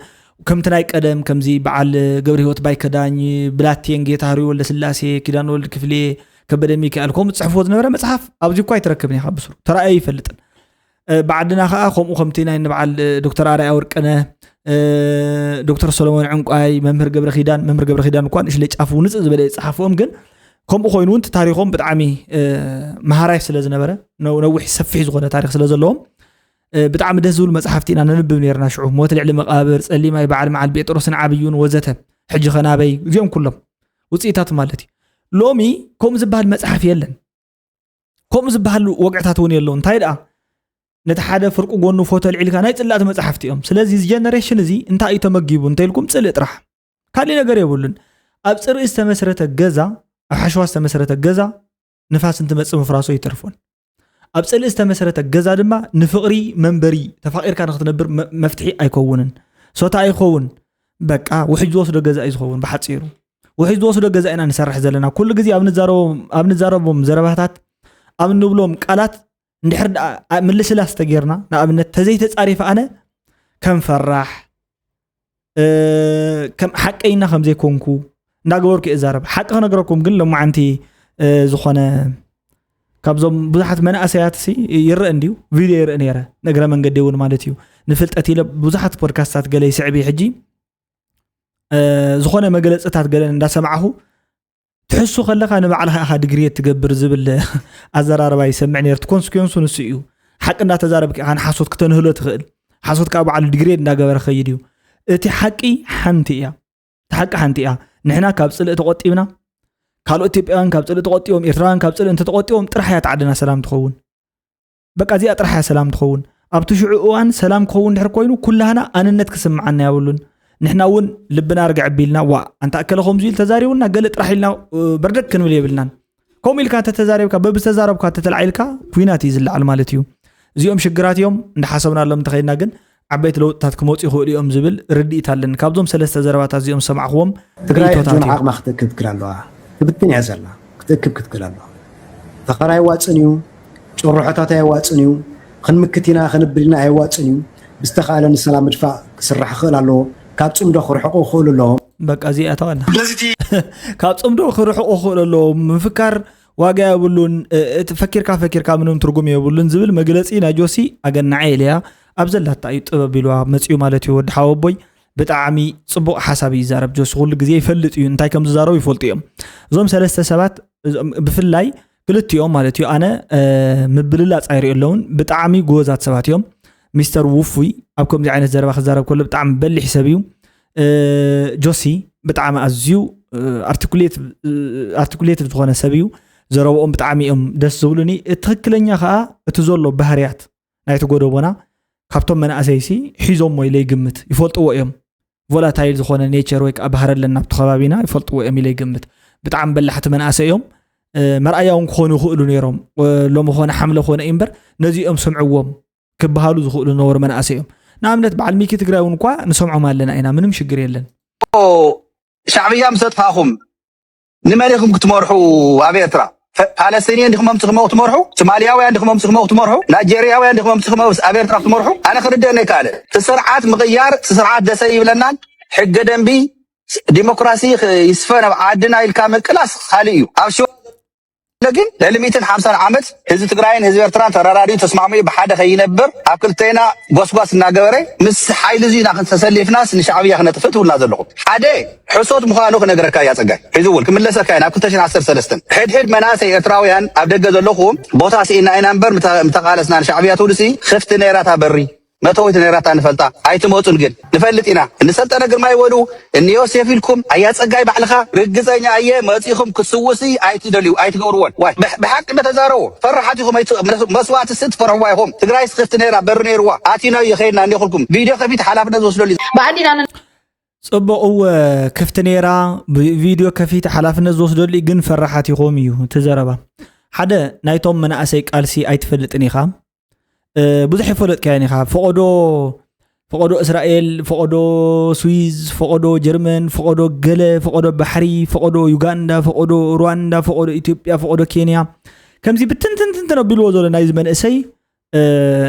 ከምቲ ናይ ቀደም ከምዚ በዓል ገብረ ህይወት ባይከዳኝ ብላቴን ጌታ ህሪ ወልደ ስላሴ ኪዳን ወልድ ክፍሌ ከበደ ሚካኤል ከምኡ ዝፅሕፍዎ ዝነበረ መፅሓፍ ኣብዚ እኳ ኣይትረክብን ኢኻ ብስሩ ተራእዮ ይፈልጥን ብዓድና ከዓ ከምኡ ከምቲ ናይ ንበዓል ዶክተር ኣርኣያ ወርቅነ ዶክተር ሰሎሞን ዕንቋይ መምህር ገብረ ኪዳን መምህር ገብረ ኪዳን እኳ ንእሽለ ጫፉ ንፅእ ዝበለ ዝፅሓፍኦም ግን ከምኡ ኮይኑ እውን ታሪኮም ብጣዕሚ መሃራይ ስለ ዝነበረ ነዊሕ ሰፊሕ ዝኮነ ታሪክ ስለ ዘለዎም ብጣዕሚ ደስ ዝብሉ መፅሓፍቲ ኢና ነንብብ ነርና ሽዑ ሞት ልዕሊ መቃብር ፀሊማይ በዓል መዓል ጴጥሮስን ዓብዩን ወዘተ ሕጂ ከናበይ እዚኦም ኩሎም ውፅኢታት ማለት እዩ ሎሚ ከምኡ ዝበሃል መፅሓፍ የለን ከምኡ ዝበሃል ወግዕታት እውን የለዉ እንታይ ደኣ ነቲ ሓደ ፍርቂ ጎኑ ፎቶ ኣልዒልካ ናይ ፅላእቲ መፅሓፍቲ እዮም ስለዚ እዚ ጀነሬሽን እዚ እንታይ እዩ ተመጊቡ እንተኢልኩም ፅልእ ጥራሕ ካሊእ ነገር የብሉን ኣብ ፅርኢ ዝተመስረተ ገዛ ኣብ ሓሸዋ ዝተመስረተ ገዛ ንፋስ እንትመፅእ ምፍራሶ ይተርፎን ኣብ ፅልእ ዝተመስረተ ገዛ ድማ ንፍቕሪ መንበሪ ተፋቂርካ ንክትነብር መፍትሒ ኣይከውንን ሶታ ኣይኸውን በቃ ውሕጅ ዝወስዶ ገዛ እዩ ዝኸውን ብሓፂሩ ውሕጅ ዝወስዶ ገዛ ኢና ንሰርሕ ዘለና ኩሉ ግዜ ኣብ ንዛረቦም ዘረባታት ኣብ ንብሎም ቃላት እንድሕር ደኣ ምልስላስ ተጌርና ንኣብነት ተዘይተፃሪፈ ኣነ ከም ፈራሕ ከም ሓቀይና ከም ዘይኮንኩ እንዳገበርኩ እየ ዛረብ ሓቂ ክነገረኩም ግን ሎማዓንቲ ዝኾነ ካብዞም ብዙሓት መናእሰያት ሲ ይረአ እንድዩ ቪድዮ ይርኢ ነረ ንእግረ መንገዲ እውን ማለት እዩ ንፍልጠት ኢለ ብዙሓት ፖድካስታት ገለ ይስዕብ ሕጂ ዝኾነ መግለፅታት ገለ እንዳሰማዕኹ ትሕሱ ከለካ ንባዕልካ ኢኻ ድግሪ ትገብር ዝብል ኣዘራርባ ይሰምዕ ነርት ኮንስኩንሱ ንሱ እዩ ሓቂ እንዳተዛረብክ ኢኻ ንሓሶት ክተንህሎ ትኽእል ሓሶት ካብ በዓሉ ድግሬድ እንዳገበረ ከይድ እዩ እቲ ሓቂ ሓንቲ እያ እቲ ሓቂ ሓንቲ እያ ንሕና ካብ ፅልእ ተቆጢብና ካልኦት ኢትዮጵያውያን ካብ ፅልእ ተቆጢቦም ኤርትራውያን ካብ ፅልእ እንተተቆጢቦም ጥራሕ እያ ተዓድና ሰላም ትኸውን በቃ እዚኣ ጥራሕ እያ ሰላም ትኸውን ኣብቲ ሽዑ እዋን ሰላም ክኸውን ድሕር ኮይኑ ኩላህና ኣንነት ክስምዓና የብሉን ንሕና እውን ልብና ርግዕ ቢልና ዋ ኣንታ እከለ ከምዚ ኢሉ ተዛሪቡና ገለ ጥራሕ ኢልና በርደግ ክንብል የብልናን ከምኡ ኢልካ ተተዛሪብካ በብዝተዛረብካ ተተላዒልካ ኩናት እዩ ዝለዓል ማለት እዩ እዚኦም ሽግራት እዮም እንዳሓሰብናሎም እንተኸይድና ግን ዓበይቲ ለውጥታት ክመፁ ይኽእሉ እዮም ዝብል ርድኢት ኣለኒ። ካብዞም ሰለስተ ዘረባታት እዚኦም ዝሰማዕኹዎም ትግራይ ርኢቶታት ሕጂውን እዮም። ዓቕማ ክትእክብ ክትክል ኣለዋ። ትብትን እያ ዘላ። ክትእክብ ክትክል ኣለዋ። ፈኸራ ኣየዋፅእን እዩ። ጭርሖታት ኣየዋፅእን እዩ። ኽንምክት ኢና ኽንብል ኢና ኣየዋፅእን እዩ። ብዝተኽኣለ ንሰላም ምድፋእ ክስራሕ ክኽእል ኣለዎ። ካብ ፅምዶ ክርሕቑ ክኽእሉ ኣለዎም። በቃ እዚኣ ተዋላ። ስለዚ እቲ ካብ ፅምዶ ክርሕቑ ክኽእሉ ኣለዎም። ምፍካር ዋጋ የብሉን። እቲ ፈኪርካ ፈኪርካ ምንም ትርጉም የብሉን ዝብል መግለፂ ናይ ጆሲ ኣገናዐ ኢለያ። ኣብ ዘላታ እዩ ጥበብ ኢልዋ መጺኡ ማለት እዩ ወዲ ሓወቦይ ብጣዕሚ ፅቡቅ ሓሳብ እዩ ይዛረብ ጆሲ ኩሉ ግዜ ይፈልጥ እዩ እንታይ ከም ዝዛረቡ ይፈልጡ እዮም እዞም ሰለስተ ሰባት ብፍላይ ክልቲኦም ማለት እዩ ኣነ ምብልላፅ ኣይሪኦ ኣለውን ብጣዕሚ ጎበዛት ሰባት እዮም ሚስተር ውፉይ ኣብ ከምዚ ዓይነት ዘረባ ክዛረብ ከሎ ብጣዕሚ በሊሕ ሰብ እዩ ጆሲ ብጣዕሚ ኣዝዩ ኣርቲኩሌት ዝኾነ ሰብ እዩ ዘረብኦም ብጣዕሚ እዮም ደስ ዝብሉኒ ትክክለኛ ከዓ እቲ ዘሎ ባህርያት ናይቲ ጎደቦና ካብቶም መናእሰይሲ ሒዞሞ ኢለ ይግምት ይፈልጥዎ እዮም ቮላታይል ዝኾነ ኔቸር ወይ ከዓ ባህረ ኣለና ኣብቲ ከባቢና ይፈልጥዎ እዮም ኢለ ይግምት ብጣዕሚ በላሕቲ መናእሰይ እዮም መርኣያ እውን ክኾኑ ይኽእሉ ነይሮም ሎሚ ኾነ ሓምለ ኮነ እዩ እምበር ነዚኦም ስምዕዎም ክበሃሉ ዝኽእሉ ነበሩ መናእሰይ እዮም ንኣብነት በዓል ሚኪ ትግራይ እውን እኳ ንሰምዖም ኣለና ኢና ምንም ሽግር የለን ሻዕብያ ምስ ኣጥፋእኹም ንመን ኢኩም ክትመርሑ ኣብ ኤርትራ ፓለስቴንየን ዲኩም ኣምጺኩም ኣብኡ ክትመርሑ ትማልያውያን ዲኩም ኣምጺኩም ኣብኡ ክትመርሑ ናይጀርያውያን ዲኩም ኣምጺኩም ኣብ ኤርትራ ክትመርሑ ኣነ ክርደአኒ ኣይከኣለን እቲ ስርዓት ምቕያር እቲ ስርዓት ደሰ ይብለናን ሕገ ደንቢ ዲሞክራሲ ይስፈን ኣብ ዓድና ኢልካ ምቅላስ ካልእ እዩ ኣብ ሽዋ ግን ልዕሊ ሚእትን ሓምሳን ዓመት ህዝቢ ትግራይን ህዝቢ ኤርትራን ተራዳዲኡ ተስማዕሚዑ ብሓደ ከይነብር ኣብ ክልቴና ጎስጓስ እናገበረ ምስ ሓይሊ እዙይ ኢና ተሰሊፍናስ ንሻዕብያ ክነጥፍእ ትብሉና ዘለኹም ሓደ ሕሶት ምዃኑ ክነግረካ እያ ጸጋይ ሕዚ እውን ክምለሰካ እየ ናብ ክልተ ሽሕን ዓሰርተ ሰለስተን ሕድሕድ መናእሰይ ኤርትራውያን ኣብ ደገ ዘለኹም ቦታ ስኢና ኢና እምበር ምተቃለስና ንሻዕብያ ትብሉሲ ክፍቲ ነይራ እታ በሪ መእተዊት ነይራታ ንፈልጣ ኣይትመጹን ግን ንፈልጥ ኢና እኒ ሰልጠነ ግርማይ በሉ እኒ ዮሴፍ ኢልኩም ኣያ ጸጋይ ባዕልኻ ርግጸኛ እየ መጺኹም ክትስውሲ ኣይትደልዩ ኣይትገብርዎን ዋይ ብሓቂ እንዶ ተዛረቡ ፈራሓት ኢኹም መስዋእቲ ሲ ትፈርሕዋ ኢኹም ትግራይስ ክፍቲ ነይራ በሪ ነይርዋ ኣቲናዮ ከይድና እኒ ኩልኩም ቪድዮ ከፊት ሓላፍነት ዝወስደሉ ብኣዴና ጽቡቕ እወ ክፍቲ ነይራ ቪድዮ ከፊት ሓላፍነት ዝወስደሉ እዩ ግን ፈራሓት ኢኹም እዩ እቲ ዘረባ ሓደ ናይቶም መናእሰይ ቃልሲ ኣይትፈልጥን ኢኻ ብዙሕ ይፈለጥካዮን ኢኻ ፈቐዶ ፈቐዶ እስራኤል ፈቐዶ ስዊዝ ፈቐዶ ጀርመን ፈቐዶ ገለ ፈቐዶ ባሕሪ ፈቐዶ ዩጋንዳ ፈቐዶ ሩዋንዳ ፈቐዶ ኢትዮጵያ ፈቐዶ ኬንያ ከምዚ ብትንትንትንትን ኣቢልዎ ዘሎ ናይዚ መንእሰይ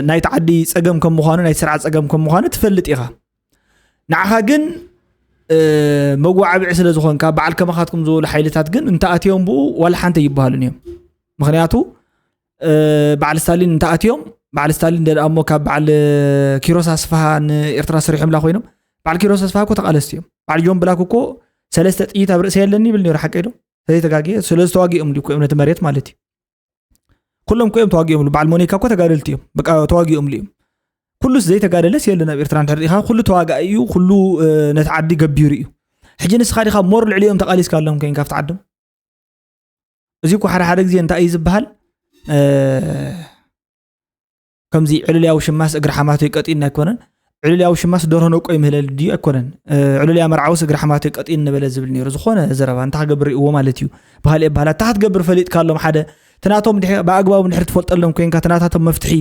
ናይቲ ዓዲ ፀገም ከም ምኳኑ ናይ ስርዓ ፀገም ከም ምኳኑ ትፈልጥ ኢኻ ንዓኻ ግን መጓዓብዒ ስለ ዝኾንካ በዓል ከማኻትኩም ዝበሉ ሓይልታት ግን እንተኣትዮም ብኡ ዋላ ሓንቲ ይበሃሉን እዮም ምክንያቱ በዓል ስታሊን እንተኣትዮም በዓል ስታሊን ደኣ እሞ ካብ በዓል ኪሮስ ኣስፋሃ ንኤርትራ ሰሪሖምላ ኮይኖም በዓል ኪሮስ ኣስፋሃ እኮ ተቃለስቲ እዮም በዓል ጆን ብላክ እኮ ሰለስተ ጥይት ኣብ ርእሰ የለኒ ይብል ነሩ ሓቂ ዶ ተዘይተጋግየ ስለዚ ተዋጊኦም እኮ እዮም ነቲ መሬት ማለት እዩ ኩሎም እኮ እዮም ተዋጊኦም በዓል ሞኒካ እኮ ተጋደልቲ እዮም በቃ ተዋጊኦም እዮም ኩሉስ ዘይተጋደለስ የለን ኣብ ኤርትራ እንተሪኢኻ ኩሉ ተዋጋኢ እዩ ኩሉ ነቲ ዓዲ ገቢሩ እዩ ሕጂ ንስኻ ዲኻ ሞር ልዕሊኦም ተቃሊስካ ኣሎም ኮይንካ ኣብቲ ዓዶም እዚ እኳ ሓደ ሓደ ግዜ እንታይ እዩ ዝበሃል ከምዚ ዕልልያዊ ሽማስ እግሪ ሓማቶ ይቀጢን ኣይኮነን ዕልልያዊ ሽማስ ደርሆ ነቆ ይምህለል ድዩ ኣይኮነን ዕልልያ መርዓውስ እግሪ ሓማቶ ይቀጢን ነበለ ዝብል ነይሩ ዝኾነ ዘረባ እንታይ ክገብር ይእዎ ማለት እዩ ባህልኤ ባህላ እታ ክትገብር ፈሊጥካሎም ሓደ ትናቶም ብኣግባቡ ድሕሪ ትፈልጠሎም ኮንካ ትናታቶም መፍትሒ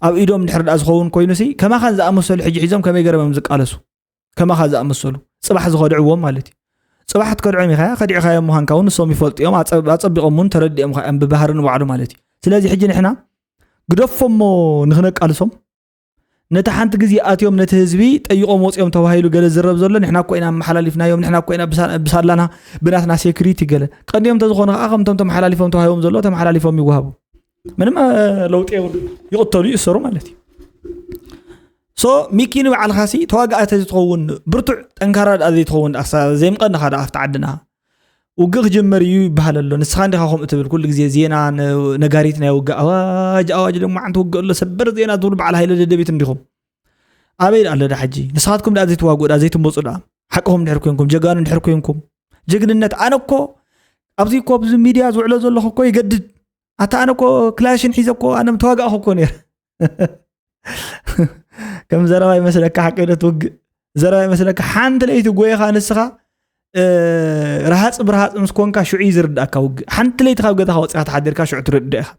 ኣብ ኢዶም ድሕሪ ድኣ ዝኸውን ኮይኑ ሲ ከማኻን ዝኣመሰሉ ሕጂ ሒዞም ከመይ ገረም እዮም ዝቃለሱ ከማኻ ዝኣመሰሉ ፅባሕ ዝኸድዕዎም ማለት እዩ ፅባሕ ትከድዖም ኢኻ ከዲዕኻዮ ምዃንካ እውን ንሶም ይፈልጡ እዮም ኣፀቢቖም እውን ተረዲኦምካ እዮም ብባህሪ ንባዕሉ ማለት እዩ ስለዚ ሕጂ ንሕና ግደፎሞ ንክነቃልሶም ነቲ ሓንቲ ግዜ ኣትዮም ነቲ ህዝቢ ጠይቆም ወፅኦም ተባሂሉ ገለ ዝረብ ዘሎ ንሕና እኮ ኢና ኣመሓላሊፍናዮም ንሕና እኮ ኢና ብሳላና ብናትና ሴኩሪቲ ገለ ቀንዲኦም እንተዝኾኑ ከዓ ከምቶም ተመሓላሊፎም ተዋሂቦም ዘለዎ ተመሓላሊፎም ይወሃቡ ምንም ለውጢ የብሉ ይቕተሉ ይእሰሩ ማለት እዩ ሶ ሚኪ ንባዕልካ ሲ ተዋጋእ ተዝትኸውን ብርቱዕ ጠንካራ ድኣ ዘይትኸውን ድኣ ዘይምቐንኻ ድኣ ኣብቲ ዓድና ውግእ ክጅመር እዩ ይበሃል ኣሎ ንስኻ እንዲኻ ከምኡ ትብል ኩሉ ግዜ ዜና ነጋሪት ናይ ውግእ ኣዋጅ ኣዋጅ ድማ ዓንቲ ውግእ ኣሎ ሰበር ዜና ትብሉ በዓል ሃይለ ደደቢት እንዲኹም ኣበይ ድኣ ኣሎ ዳ ሕጂ ንስኻትኩም ድኣ ዘይትዋግኡ ድኣ ዘይትመፁ ድኣ ሓቅኹም ድሕር ኮንኩም ጀጋኑ ድሕር ኮንኩም ጅግንነት ኣነ እኮ ኣብዚ እኮ ኣብዚ ሚድያ ዝውዕሎ ዘለኹ እኮ ይገድድ ኣታ ኣነ እኮ ክላሽን ሒዘ እኮ ኣነ ምተዋጋእኹ እኮ ነይረ ከም ዘረባ ይመስለካ ሓቂ ዶ ትውግእ ዘረባ ይመስለካ ሓንቲ ለይቲ ጎይኻ ንስኻ ረሃፅ ብረሃፅ ምስ ኮንካ ሽዑ እዩ ዝርዳእካ ውግእ ሓንቲ ለይቲ ካብ ገዛኻ ወፂኻ ተሓዲርካ ሽዑ ትርድእ ኢኻ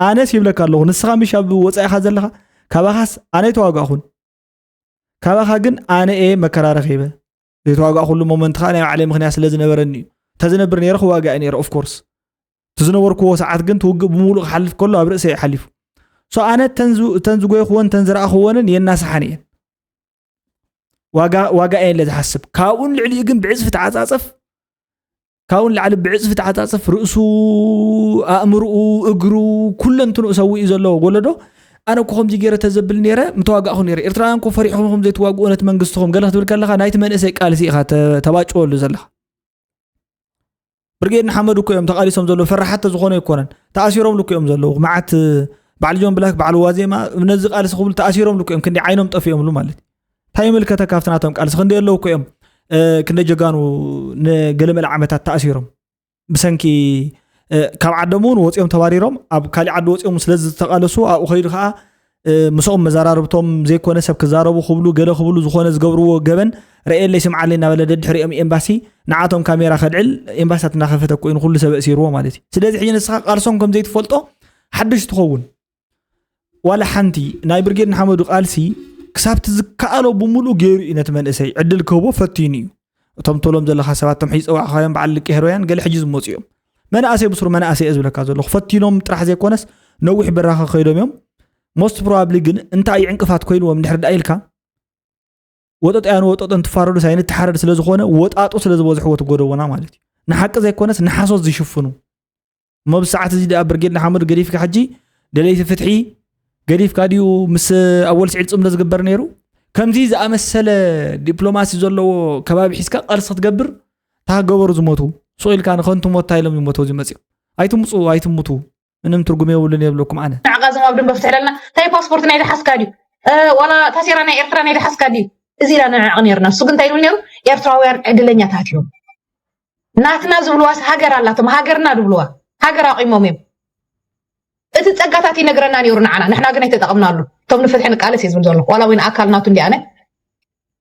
ኣነስ ይብለካ ኣለኹ ንስኻ ምሽ ኣብ ወፃኢኻ ዘለኻ ካባኻስ ኣነ ተዋጋእኹን ካባኻ ግን ኣነ እየ መከራ ረኺበ ዘይተዋጋእኩሉ ሞመንት ከዓ ናይ ባዕለይ ምክንያት ስለ ዝነበረኒ እዩ እንተዝነብር ነረ ክዋጋእ ነረ ኦፍኮርስ እቲ ዝነበርክዎ ሰዓት ግን ትውግእ ብምሉእ ክሓልፍ ከሎ ኣብ ርእሰ ሓሊፉ ሶ ኣነ እተን ዝጎይኽዎን እተን ዝረእኽዎንን የናስሓን እየን ዋጋ እየን ለዝሓስብ ካብኡን ልዕሊኡ ግን ብዕፅፊ ተዓፃፀፍ ካብኡ ንላዕሊ ብዕፅፊ ተዓፃፅፍ ርእሱ ኣእምርኡ እግሩ ኩለንትንኡ ሰዊኡ ዘለዎ ጎለዶ ኣነ እኮ ከምዚ ገይረ ተዘብል ነረ ምተዋጋእኹ ነረ ኤርትራውያን እኮ ፈሪሕኹም ከም ዘይትዋግኡ ነቲ መንግስትኹም ገለ ክትብል ከለካ ናይቲ መንእሰይ ቃልሲ ኢኻ ተባጭወሉ ዘለካ ብርጌድ ንሓመዱ እኮ እዮም ተቃሊሶም ዘለዉ ፈራሓት ተዝኾኑ ኣይኮነን ተኣሲሮምሉ እኮ እዮም ዘለዉ መዓት በዓል ጆን ብላክ በዓል ዋዜማ ነዚ ቃልሲ ክብሉ ተኣሲሮምሉ እኮ እዮም ክንዲ ዓይኖም ጠፊኦምሉ ማለት እዩ እንታይ ይምልከተ ካብቲ ናቶም ቃልሲ ክንደይ ኣለዉ እኮ እዮም ክንደይ ጀጋኑ ንገለመለ ዓመታት ተኣሲሮም ብሰንኪ ካብ ዓዶም እውን ወፂኦም ተባሪሮም ኣብ ካሊእ ዓዲ ወፂኦም ስለዝተቃለሱ ኣብኡ ከይዱ ከዓ ምስኦም መዘራርብቶም ዘይኮነ ሰብ ክዛረቡ ክብሉ ገለ ክብሉ ዝኾነ ዝገብርዎ ገበን ረኤለይ ስምዓለይ እናበለ ደድሕሪኦም ኤምባሲ ንዓቶም ካሜራ ከልዕል ኤምባሲታት እናኸፈተ ኮይኑ ኩሉ ሰብ እሲርዎ ማለት እዩ ስለዚ ሕጂ ንስኻ ቃልሶም ከምዘይትፈልጦ ሓድሽ ትኸውን ዋላ ሓንቲ ናይ ብርጌድ ንሓመዱ ቃልሲ ክሳብ ትዝከኣሎ ብምሉእ ገይሩ እዩ ነቲ መንእሰይ ዕድል ክህቦ ፈቲኑ እዩ እቶም ተሎም ዘለካ ሰባት ቶም ሕጂ ፀዋዕካዮም በዓል ልቂ ሄሮያን ገለ ሕጂ ዝመፁ እዮም መናእሰይ ብስሩ መናእሰይ እየ ዝብለካ ዘለኹ ፈቲኖም ጥራሕ ዘይኮነስ ነዊሕ በራኸ ከይዶም እዮም ሞስት ፕሮባብሊ ግን እንታይ እዩ ዕንቅፋት ኮይኑዎም ድሕሪ ዳ ኢልካ ወጠጥያን ወጠጠን ትፋረዱ ሳይ ንተሓረድ ስለዝኾነ ወጣጡ ስለዝበዝሕዎ ትጎደቦና ማለት እዩ ንሓቂ ዘይኮነስ ንሓሶት ዝሽፍኑ እሞ ኣብዚ ሰዓት እዚ ድኣ ብርጌድ ንሓመዱ ገዲፍካ ሕጂ ደለይቲ ፍትሒ ገዲፍካ ድዩ ምስ ኣወል ስዒድ ፅምዶ ዝግበር ነይሩ ከምዚ ዝኣመሰለ ዲፕሎማሲ ዘለዎ ከባቢ ሒዝካ ቃልሲ ክትገብር ታገበሩ ዝሞቱ ስቕ ኢልካ ንኸንቱ ሞት እንታይ ኢሎም ዝሞተው እዚ መፅኦም ኣይትምፁ ኣይትምቱ ምንም ትርጉም የብሉን የብለኩም ኣነ ንዕቃ ዞም ኣብ ደንበ ፍትሕለና እንታይ ፓስፖርት ናይ ዝሓዝካ ድዩ ዋላ ታሴራ ናይ ኤርትራ ናይ ዝሓዝካ ድዩ እዚ ኢና ንዕዕቕ ነርና እሱ ግን እንታይ ይብል ነሩ ኤርትራውያን ዕድለኛታት እዮም ናትና ዝብልዋስ ሃገር ኣላቶም ሃገርና ዝብልዋ ሃገር ኣቑሞም እዮም እቲ ፀጋታት ይነግረና ነይሩ ንዓና ንሕና ግን ኣይተጠቕምናሉ እቶም ንፍትሒ ንቃለስ እዩ ዝብል ዘሎ ዋላ እውን ኣካል ናቱ እንዲኣነ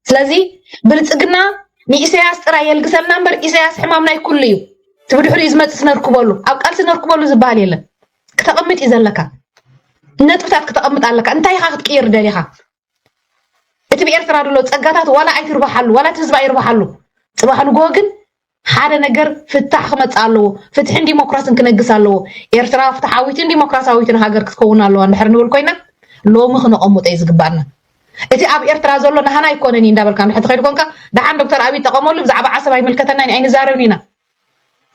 ስለዚ ብልፅግና ንኢሳያስ ጥራይ የልግሰልና እምበር ኢሳያስ ሕማም ናይ ኩሉ እዩ እቲ ብድሕሪኡ ዝመፅእ ስነርክበሉ ኣብ ቃልሲ ነርክበሉ ዝበሃል የለን ክተቕምጥ እዩ ዘለካ ነጥብታት ክተቕምጥ ኣለካ እንታይ ኢኻ ክትቅይር ደሊኻ እቲ ብኤርትራ ድሎ ጸጋታት ዋላ ኣይትርባሓሉ ዋላ እቲ ህዝቢ ኣይርባሓሉ ጽባሕ ንግሆ ግን ሓደ ነገር ፍታሕ ክመጽእ ኣለዎ ፍትሕን ዲሞክራስን ክነግስ ኣለዎ ኤርትራ ፍትሓዊትን ዲሞክራሲያዊትን ሃገር ክትከውን ኣለዋ እንድሕር ንብል ኮይና ሎሚ ክነቐምጦ እዩ ዝግባኣና እቲ ኣብ ኤርትራ ዘሎ ናህና ኣይኮነን እዩ እንዳበልካ ንሕቲ ከይዱ ኮንካ ደሓን ዶክተር ኣብይ ጠቐመሉ ብዛዕባ ዓሰብ ኣይምልከተናን ኣይንዛረብን ኢና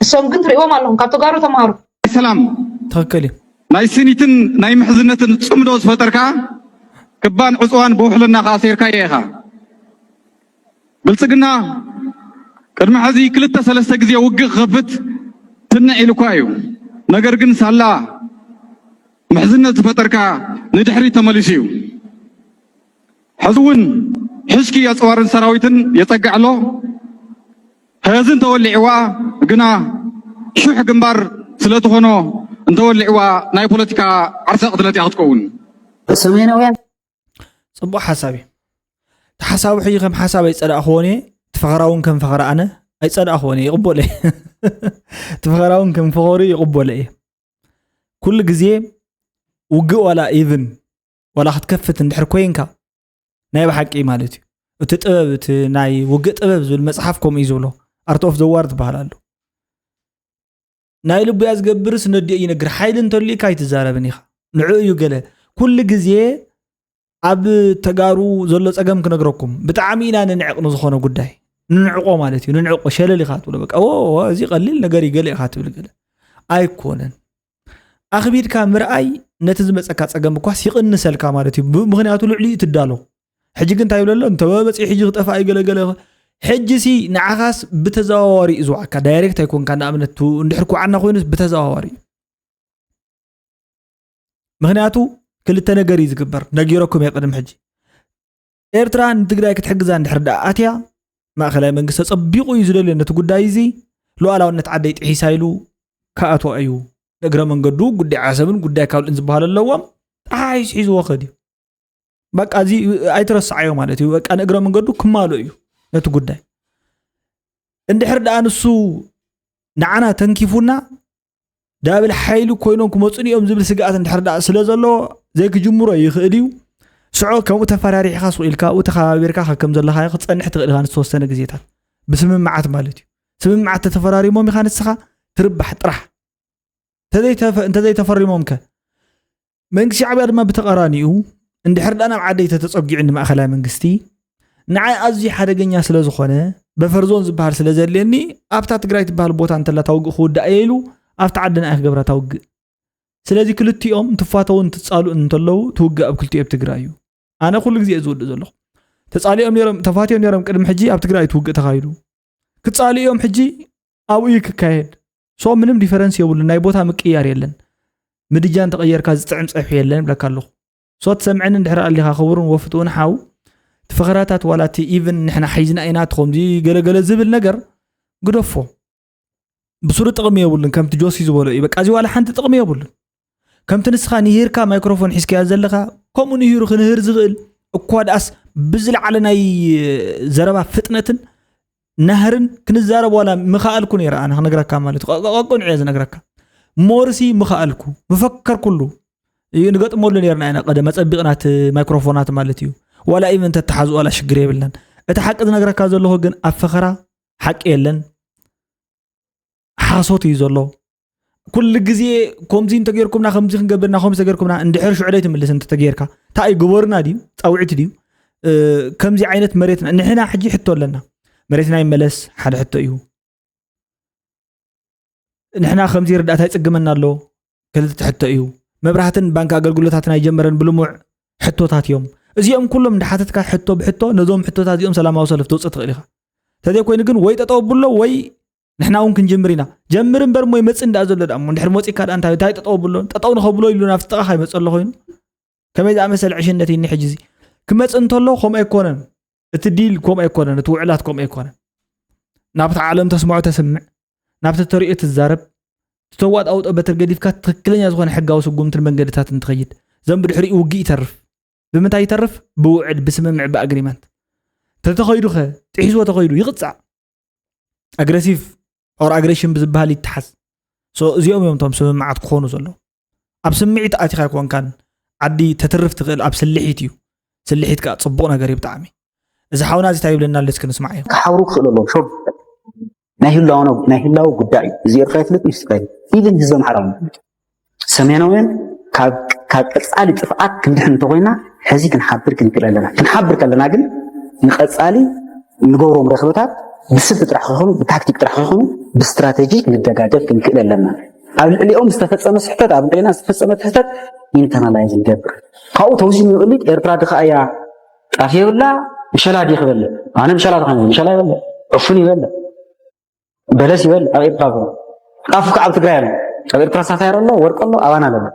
ንሶም ግን ትሪእዎም ኣለኹም ካብ ተጋሩ ተማሃሩ። ናይ ሰላም ትክክል እዩ። ናይ ስኒትን ናይ ምሕዝነትን ጽምዶ ዝፈጠርካ ክባን ዕጽዋን ብውሕልና ከኣ ኣሲርካዮ ኢኻ። ብልጽግና ቅድሚ ሕዚ ክልተ ሰለስተ ግዜ ውግእ ክኸፍት ትንዕ ኢሉኳ እዩ። ነገር ግን ሳላ ምሕዝነት ዝፈጠርካ ንድሕሪት ተመሊሱ እዩ። ሕዚ እውን ሕሽኪ የፅዋርን ሰራዊትን የፀግዕ ኣሎ። ሕዚ እንተወሊዕዋ ግና ሹሕ ግንባር ስለትኾኖ እንተወሊዕዋ ናይ ፖለቲካ ዓርሰ ቅትለት እያ ክትከውን። ሰሜናውያን ፅቡቅ ሓሳብ እዩ ተሓሳቡ ሕጂ ከም ሓሳብ ኣይፀዳእክዎን እየ ትፈኸራ እውን ከም ፈኸራ ኣነ ኣይፀዳእክዎን እየ ይቕበሎ እየ ትፈኸራ እውን ከም ፈኸሩ ይቕበሎ እየ ኩሉ ግዜ ውግእ ዋላ ኢቭን ዋላ ክትከፍት እንድሕር ኮይንካ ናይ ብሓቂ ማለት እዩ እቲ ጥበብ እቲ ናይ ውግእ ጥበብ ዝብል መፅሓፍ ከምኡ እዩ ዝብሎ ኣርት ኦፍ ዘዋር ዝበሃል ኣሎ ናይ ልቡያ ዝገብርስ ነዲኦ ይነግር ሓይሊ እንተልዩካ ኣይትዛረብን ኢኻ ንዑ እዩ ገለ ኩሉ ግዜ ኣብ ተጋሩ ዘሎ ፀገም ክነግረኩም ብጣዕሚ ኢና ንንዕቕ ንዝኾነ ጉዳይ ንንዕቆ ማለት እዩ ንንዕቆ ሸለል ኢኻ ትብሎ በቃ እዚ ቀሊል ነገር ይገለ ኢኻ ትብል ገለ ኣይኮነን ኣኽቢድካ ምርኣይ ነቲ ዝመፀካ ፀገም እኳስ ይቕንሰልካ ማለት እዩ ምክንያቱ ልዕሊ እዩ ትዳሎ ሕጂ ግን እንታይ ይብለሎ እንተወ በፂሑ ሕጂ ክጠፋ እዩ ገለገለ ሕጂ ሲ ንዓኻስ ብተዘዋዋሪ እዩ ዝዋዓካ ዳይሬክት ኣይኮንካ ንኣብነት እንድሕር ኩዓና ኮይኑ ብተዘዋዋሪ እዩ ምክንያቱ ክልተ ነገር እዩ ዝግበር ነጊረኩም እየ ቅድሚ ሕጂ ኤርትራ ንትግራይ ክትሕግዛ እንድሕር ደኣ ኣትያ ማእኸላይ መንግስቲ ተፀቢቑ እዩ ዝደልዮ ነቲ ጉዳይ እዚ ሉኣላውነት ዓደይ ጥሒሳ ኢሉ ክኣትዋ እዩ ንእግረ መንገዱ ጉዳይ ዓሰብን ጉዳይ ካልእን ዝበሃሉ ኣለዎም ተሓሒሱ ሒዝዎ ክድ እዩ በቃ እዚ ኣይትረስዓዮ ማለት እዩ በቃ ንእግረ መንገዱ ክማሉ እዩ ነቲ ጉዳይ እንድሕር ደኣ ንሱ ንዓና ተንኪፉና ዳብል ሓይሊ ኮይኖም ክመፁን እዮም ዝብል ስግኣት እንድሕር ደኣ ስለ ዘለዎ ዘይክጅምሮ ይኽእል እዩ ስዖ ከምኡ ተፈራሪሕካ ስቕ ኢልካ ኣብኡ ተኸባቢርካ ከከም ዘለካ ክፀንሕ ትኽእል ኢኻ ንዝተወሰነ ግዜታት ብስምምዓት ማለት እዩ ስምምዓት ተተፈራሪሞም ኢኻ ንስኻ ትርባሕ ጥራሕ እንተዘይተፈሪሞም ከ መንግስቲ ሻዕብያ ድማ ብተቐራኒኡ እንድሕር ዳ ናብ ዓደይ ተተፀጊዑ ንማእኸላይ መንግስቲ ንዓይ ኣዝዩ ሓደገኛ ስለ ዝኾነ በፈርዞን ዝበሃል ስለ ዘድልየኒ ኣብታ ትግራይ ትበሃል ቦታ እንተላ ታውግእ ክውዳእ እየ ኢሉ ኣብቲ ዓዲ ንኣይ ክገብራ ታውግእ ስለዚ ክልቲኦም እንትፋተውን ትፃልኡን እንተለዉ ትውግእ ኣብ ክልቲኦ ኣብ ትግራይ እዩ ኣነ ኩሉ ግዜ ዝውድእ ዘለኹ ተፃሊኦም ነሮም ተፋትዮም ነሮም ቅድሚ ሕጂ ኣብ ትግራይ ትውግእ ተኻይዱ ክፃሉ እዮም ሕጂ ኣብኡ እዩ ክካየድ ሶ ምንም ዲፈረንስ የብሉን ናይ ቦታ ምቅያር የለን ምድጃ እንተቐየርካ ዝጥዕም ፀብሒ የለን ብለካ ኣለኹ ሶ ትሰምዐኒ እንድሕር ኣሊኻ ክቡርን ወፍትውን ሓው ትፈኸራታት ዋላ እቲ ኢቨን ንሕና ሓይዝና ኢና ትኸምዚ ገለገለ ዝብል ነገር ግደፎ ብሱሩ ጥቕሚ የብሉን ከምቲ ጆሲ ዝበሎ እዩ በቃ እዚ ዋላ ሓንቲ ጥቕሚ የብሉን ከምቲ ንስኻ ንሂርካ ማይክሮፎን ሒዝካያ ዘለኻ ከምኡ ንሂሩ ክንህር ዝኽእል እኳ ድኣስ ብዝለዓለ ናይ ዘረባ ፍጥነትን ናህርን ክንዛረብ ዋላ ምኸኣልኩ ነይረ ኣነ ክነግረካ ማለት እዩ ቀቅንዕ እየ ዝነግረካ ሞርሲ ምኸኣልኩ ምፈከርኩሉ ንገጥመሉ ነርና ኢና ቀደ መፀቢቕናት ማይክሮፎናት ማለት እዩ ዋላ ኢቨን ተተሓዝ ዋላ ሽግር የብልናን እቲ ሓቂ ዝነግረካ ዘለኹ ግን ኣብ ፈኸራ ሓቂ የለን ሓሶት እዩ ዘሎ ኩሉ ግዜ ከምዚ እንተገርኩምና ከምዚ ክንገብርና ከምዚ ተገርኩምና እንድሕር ሽዑ ደይ ትምልስ እንተተገርካ እንታይ እዩ ግበሩና ድዩ ፃውዒት ድዩ ከምዚ ዓይነት መሬትና ንሕና ሕጂ ሕቶ ኣለና መሬትና ይመለስ ሓደ ሕቶ እዩ ንሕና ከምዚ ርዳእታ ይፅግመና ኣሎ ክልተ ሕቶ እዩ መብራህትን ባንኪ ኣገልግሎታትን ኣይጀመረን ብልሙዕ ሕቶታት እዮም እዚኦም ኩሎም እንዳሓተትካ ሕቶ ብሕቶ ነዞም ሕቶታት እዚኦም ሰላማዊ ሰልፍ ተውፅእ ትኽእል ኢኻ እንተዘይኮይኑ ግን ወይ ጠጠው ብሎ ወይ ንሕና እውን ክንጅምር ኢና ጀምር እምበር እሞ ይመፅእ እንዳ ዘሎ ዳሞ እንድሕር መፂካ ዳ እንታይ እንታይ ጠጠው ብሎ ጠጠው ንኸብሎ ኢሉ ናብቲ ጥቓ ከይመፀ ኣሎ ኮይኑ ከመይ ዝኣመሰለ ዕሽነት እኒ ሕጂ እዚ ክመፅእ እንተሎ ከምኡ ኣይኮነን እቲ ዲል ከምኡ ኣይኮነን እቲ ውዕላት ከምኡ ኣይኮነን ናብቲ ዓለም ተስምዖ ተስምዕ ናብቲ ተሪኦ ትዛረብ ዝተዋጥ ኣውጦ በትር ገዲፍካ ትክክለኛ ዝኾነ ሕጋዊ ስጉምትን መንገድታትን ትኸይድ ዘም ብድሕሪኡ ውግእ ይተርፍ ብምንታይ ይተርፍ ብውዕል ብስምምዕ ብኣግሪመንት ተተኸይዱ ኸ ጥሒስዎ ተኸይዱ ይቕፃዕ ኣግረሲቭ ኦር ኣግሬሽን ብዝበሃል ይተሓዝ እዚኦም እዮም እቶም ስምምዓት ክኾኑ ዘለዎ ኣብ ስምዒት ኣቲኻ ኣይኮንካን ዓዲ ተትርፍ ትኽእል ኣብ ስልሒት እዩ ስልሒት ከዓ ፅቡቕ ነገር እዩ ብጣዕሚ እዚ ሓውና እዚ እንታይ ይብለና ኣሎ እስኪ ንስማዕ እዮም ክሓብሩ ክኽእሉ ኣለዎም ሾ ናይ ህላው ጉዳይ እዩ እዚ ኤርትራ ይፍለጥ ምስ ኢቨን ህዝቢ ኣምሓራ ሰሜናውያን ካብ ካብ ቀጻሊ ጥፍኣት ክንድሕን እንተኾይና ሕዚ ክንሓብር ክንክእል ኣለና። ክንሓብር ከለና ግን ንቀጻሊ ንገብሮም ረኽብታት ብስልቲ ጥራሕ ከይኮኑ ብታክቲክ ጥራሕ ከይኮኑ ብስትራቴጂ ክንደጋገፍ ክንክእል ኣለና። ኣብ ልዕሊኦም ዝተፈጸመ ስሕተት ኣብ ልዕሊና ዝተፈጸመ ስሕተት ኢንተርናላይዝ ንገብር። ካብኡ ተውዚም ይቕሊድ ኤርትራ ድኻ እያ ጣፍ የብላ ምሸላ ዲኽ በለ ኣነ ምሸላ ድኻ ምሸላ ይበለ ዕፉን ይበለ በለስ ይበል ኣብ ኤርትራ ኣሎ ጣፍ ከዓ ኣብ ትግራይ ኣሎ ኣብ ኤርትራ ሳታየር ኣሎ ወርቂ ኣሎ ኣባና ኣሎ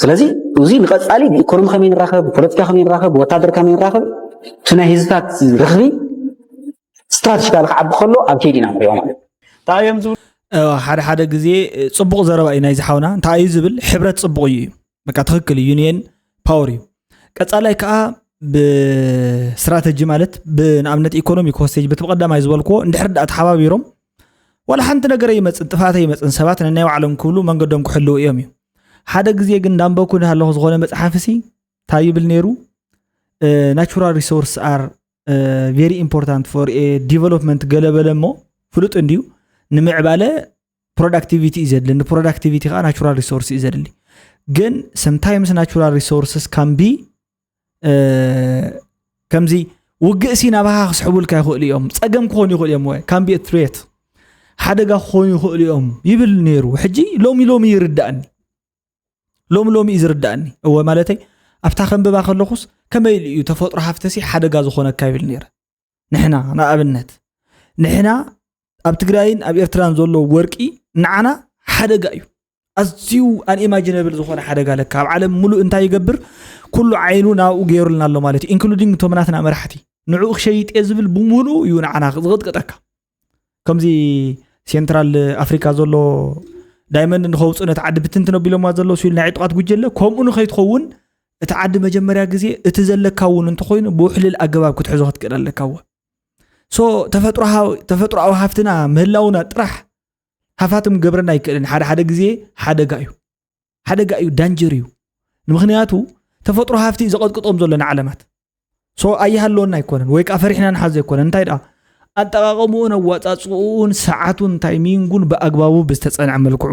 ስለዚ እዚ ንቐፃሊ ብኢኮኖሚ ከመይ ንራኸብ ብፖለቲካ ከመይ ንራኸብ ብወታደር ከመይ ንራኸብ እቲ ናይ ህዝብታት ርኽቢ ስትራቴጂካሊ ክዓቢ ከሎ ኣብ ከይዲ ኢና ንሪኦ ማለት እንታይ እዮም ዝብሉ ሓደ ሓደ ግዜ ፅቡቕ ዘረባ እዩ ናይ ዝሓውና እንታይ እዩ ዝብል ሕብረት ፅቡቕ እዩ በቃ ትክክል እዩ ዩኒየን ፓወር እዩ ቀፃላይ ከዓ ብስትራተጂ ማለት ብንኣብነት ኢኮኖሚ ኮስቴጅ በቲ ብቀዳማይ ዝበልክዎ እንድሕር ዳኣ ተሓባቢሮም ዋላ ሓንቲ ነገር ይመፅን ጥፋተ ይመፅን ሰባት ንናይ ባዕሎም ክብሉ መንገዶም ክሕልው እዮም እዩ ሓደ ግዜ ግን እንዳንበኩ ኣለኹ ዝኾነ መፅሓፍ ሲ እንታይ ይብል ነይሩ ናቹራል ሪሶርስ ኣር ቨሪ ኢምፖርታንት ፎር ዲቨሎፕመንት ገለበለ እሞ ፍሉጥ እንድዩ ንምዕባለ ፕሮዳክቲቪቲ እዩ ዘድሊ ንፕሮዳክቲቪቲ ከዓ ናቹራል ሪሶርስ እዩ ዘድሊ ግን ሰምታይምስ ናቹራል ሪሶርስስ ካምቢ ከምዚ ውግእ ሲ ናባኻ ክስሕቡልካ ይኽእሉ እዮም ፀገም ክኾኑ ይኽእሉ እዮም ወይ ካምቢ ትሬት ሓደጋ ክኾኑ ይኽእሉ እዮም ይብል ነይሩ ሕጂ ሎሚ ሎሚ ይርዳእኒ ሎሚ ሎሚ እዩ ዝርዳእኒ እወ ማለተይ ኣብታ ከንብባ ከለኹስ ከመይ ኢሉ እዩ ተፈጥሮ ሃፍተሲ ሓደጋ ዝኾነካ ይብል ነይረ ንሕና ንኣብነት ንሕና ኣብ ትግራይን ኣብ ኤርትራን ዘሎ ወርቂ ንዓና ሓደጋ እዩ ኣዝዩ ኣንኢማጂነብል ዝኾነ ሓደጋ ለካ ኣብ ዓለም ሙሉእ እንታይ ይገብር ኩሉ ዓይኑ ናብኡ ገይሩልና ኣሎ ማለት እዩ ኢንክሉዲንግ እቶም ናትና መራሕቲ ንዕኡ ክሸይጥ እየ ዝብል ብምሉእ እዩ ንዓና ዝቕጥቅጠካ ከምዚ ሴንትራል ኣፍሪካ ዘሎ ዳይመንድ ንኸውፅእ ነቲ ዓዲ ብትንትን ኣቢሎማ ዘሎ ስል ናይ ዕጡቃት ጉጀለ ከምኡ ንኸይትኸውን እቲ ዓዲ መጀመርያ ግዜ እቲ ዘለካ እውን እንተኮይኑ ብውሕልል ኣገባብ ክትሕዞ ክትክእል ኣለካ ዎ ሶ ተፈጥሮኣዊ ሃፍትና ምህላውና ጥራሕ ሃፋትም ገብረና ኣይክእልን ሓደ ሓደ ግዜ ሓደጋ እዩ ሓደጋ እዩ ዳንጀር እዩ ንምክንያቱ ተፈጥሮ ሃፍቲ እዩ ዘቐጥቅጦም ዘሎ ንዓለማት ሶ ኣይሃለወና ኣይኮነን ወይ ከዓ ፈሪሕና ንሓዞ ኣይኮነን እንታይ ደኣ ኣጠቃቀምኡን ኣዋፃፅኡን ሰዓቱን ታይሚንጉን ብኣግባቡ ብዝተፀንዐ መልክዑ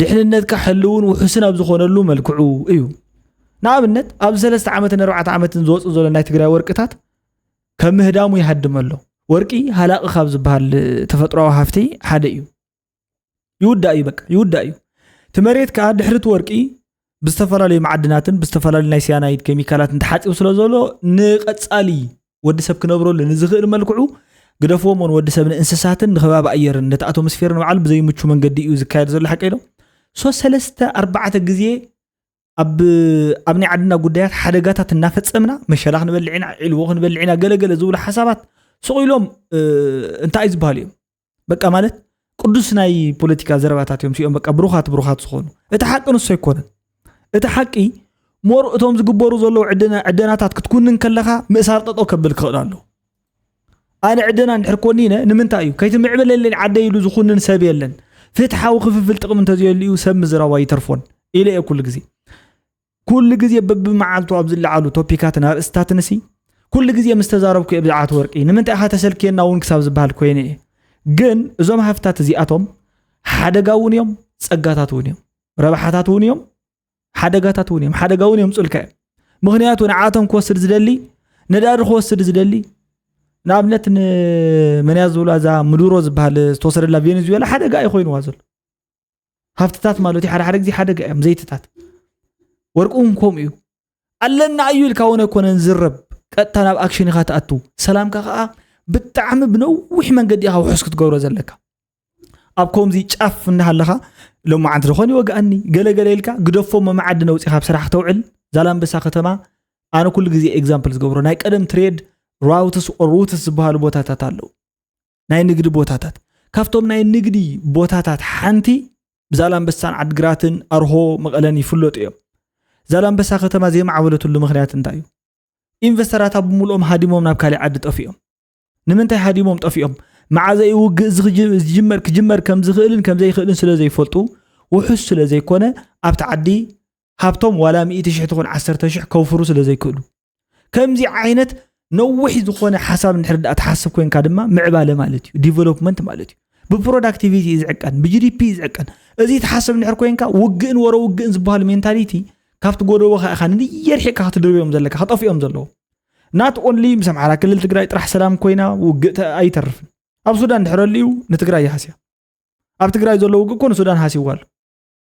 ድሕንነትካ ሕልውን ውሑስን ኣብ ዝኾነሉ መልክዑ እዩ ንኣብነት ኣብ ሰለስተ ዓመትን ኣርባዕተ ዓመትን ዝወፁ ዘሎ ናይ ትግራይ ወርቅታት ከም ምህዳሙ ይሃድም ኣሎ ወርቂ ሃላቂ ካብ ዝበሃል ተፈጥሮዊ ሃፍቲ ሓደ እዩ ይውዳእ እዩ በቃ ይውዳእ እዩ እቲ መሬት ከዓ ድሕሪ እቲ ወርቂ ብዝተፈላለዩ መዓድናትን ብዝተፈላለዩ ናይ ሲያናይድ ኬሚካላትን ተሓፂቡ ስለ ዘሎ ንቀፃሊ ወዲ ሰብ ክነብረሉ ንዝኽእል መልክዑ ግደፍዎም ን ወዲ ሰብ ንእንስሳትን ንከባቢ ኣየርን ነቲ ኣቶሞስፌር ንበዓሉ ብዘይምቹ መንገዲ እዩ ዝካየድ ዘሎ ሓቂ ዶ ሶ ሰለስተ ኣርባዕተ ግዜ ኣብ ኣብ ናይ ዓድና ጉዳያት ሓደጋታት እናፈፀምና መሸላ ክንበልዕ ኢና ዒልዎ ክንበልዕ ኢና ገለገለ ዝብሉ ሓሳባት ስቕ ኢሎም እንታይ ዝበሃሉ እዮም በቃ ማለት ቅዱስ ናይ ፖለቲካ ዘረባታት እዮም ሲኦም በቃ ብሩኻት ብሩኻት ዝኾኑ እቲ ሓቂ ንሶ ኣይኮነን እቲ ሓቂ ሞር እቶም ዝግበሩ ዘለዉ ዕደናታት ክትኩንን ከለኻ ምእሳር ጠጦ ከብል ክኽእል ኣሎ ኣነ ዕደና እንድሕር ኮኒነ ንምንታይ እዩ ከይትምዕብለለይ ዓደ ኢሉ ዝኹንን ሰብ የለን ፍትሓዊ ክፍፍል ጥቕሚ እንተዘየሉ እዩ ሰብ ምዝራባ ይተርፎን ኢለ እየ ኩሉ ግዜ ኩሉ ግዜ በብመዓልቱ ኣብ ዝለዓሉ ቶፒካትን ኣርእስታትንሲ ኩሉ ግዜ ምስ ተዛረብኩ እየ ብዛዕባ እቲ ወርቂ ንምንታይ ኢኻ ተሰልክየና እውን ክሳብ ዝበሃል ኮይነ እየ ግን እዞም ሃፍታት እዚኣቶም ሓደጋ እውን እዮም ፀጋታት እውን እዮም ረብሓታት እውን እዮም ሓደጋታት እውን እዮም ሓደጋ እውን እዮም ፅልካ እዮም ምክንያቱ ንዓቶም ክወስድ ዝደሊ ነዳዲ ክወስድ ዝደሊ ንኣብነት ንመንያ ዝብላ እዛ ምዱሮ ዝበሃል ዝተወሰደላ ቬኔዙዌላ ሓደጋ እዩ ኮይኑዋ ዘሎ ሃብትታት ማለት እዩ ሓደ ሓደ ግዜ ሓደጋ እዮም ዘይትታት ወርቂ እውን ከምኡ እዩ ኣለና እዩ ኢልካ ወነ ኮነን ዝረብ ቀጥታ ናብ ኣክሽን ኢኻ ትኣቱ ሰላምካ ከዓ ብጣዕሚ ብነዊሕ መንገዲ ኢኻ ውሑስ ክትገብሮ ዘለካ ኣብ ከምዚ ጫፍ እናሃለኻ ሎማዓንቲ ዝኾን ይወግኣኒ ገለገለ ኢልካ ግደፎ መመዓዲ ነውፂኻ ኣብ ስራሕ ክተውዕል ዛላምበሳ ከተማ ኣነ ኩሉ ግዜ ኤግዛምፕል ዝገብሮ ናይ ቀደም ትሬድ ራውትስ ኦር ሩትስ ዝበሃሉ ቦታታት ኣለዉ ናይ ንግዲ ቦታታት ካብቶም ናይ ንግዲ ቦታታት ሓንቲ ዛላንበሳን ዓድግራትን ኣርሆ መቐለን ይፍለጡ እዮም ዛላንበሳ ከተማ ዘይማዕበለትሉ ምክንያት እንታይ እዩ ኢንቨስተራት ኣብ ምሉኦም ሃዲሞም ናብ ካሊእ ዓዲ ጠፊኦም ንምንታይ ሃዲሞም ጠፊኦም መዓዘ እዩ ውግእ ዝጅመር ክጅመር ከም ዝኽእልን ከም ዘይኽእልን ስለ ዘይፈልጡ ውሑስ ስለ ዘይኮነ ኣብቲ ዓዲ ሃብቶም ዋላ ሚእቲ ሽሕ ትኹን ዓሰርተ ሽሕ ከውፍሩ ስለ ዘይክእሉ ከምዚ ዓይነት ነዊሕ ዝኾነ ሓሳብ ንድሕሪ ዳኣ ትሓስብ ኮንካ ድማ ምዕባለ ማለት እዩ ዲቨሎፕመንት ማለት እዩ ብፕሮዳክቲቪቲ እዩ ዝዕቀን ብጂዲፒ እዩ ዝዕቀን እዚ ትሓስብ ንድሕር ኮንካ ውግእን ወረ ውግእን ዝበሃል ሜንታሊቲ ካብቲ ጎደቦኻ ኢኻ ንየርሒቕካ ክትድርብዮም ዘለካ ክጠፍኦም ዘለዎ ናት ኦንሊ ምስ ኣምሓራ ክልል ትግራይ ጥራሕ ሰላም ኮይና ውግእ ኣይተርፍን ኣብ ሱዳን ድሕረሉ እዩ ንትግራይ ይሃስያ ኣብ ትግራይ ዘሎ ውግእ ኮ ንሱዳን ሃሲዋ ኣሎ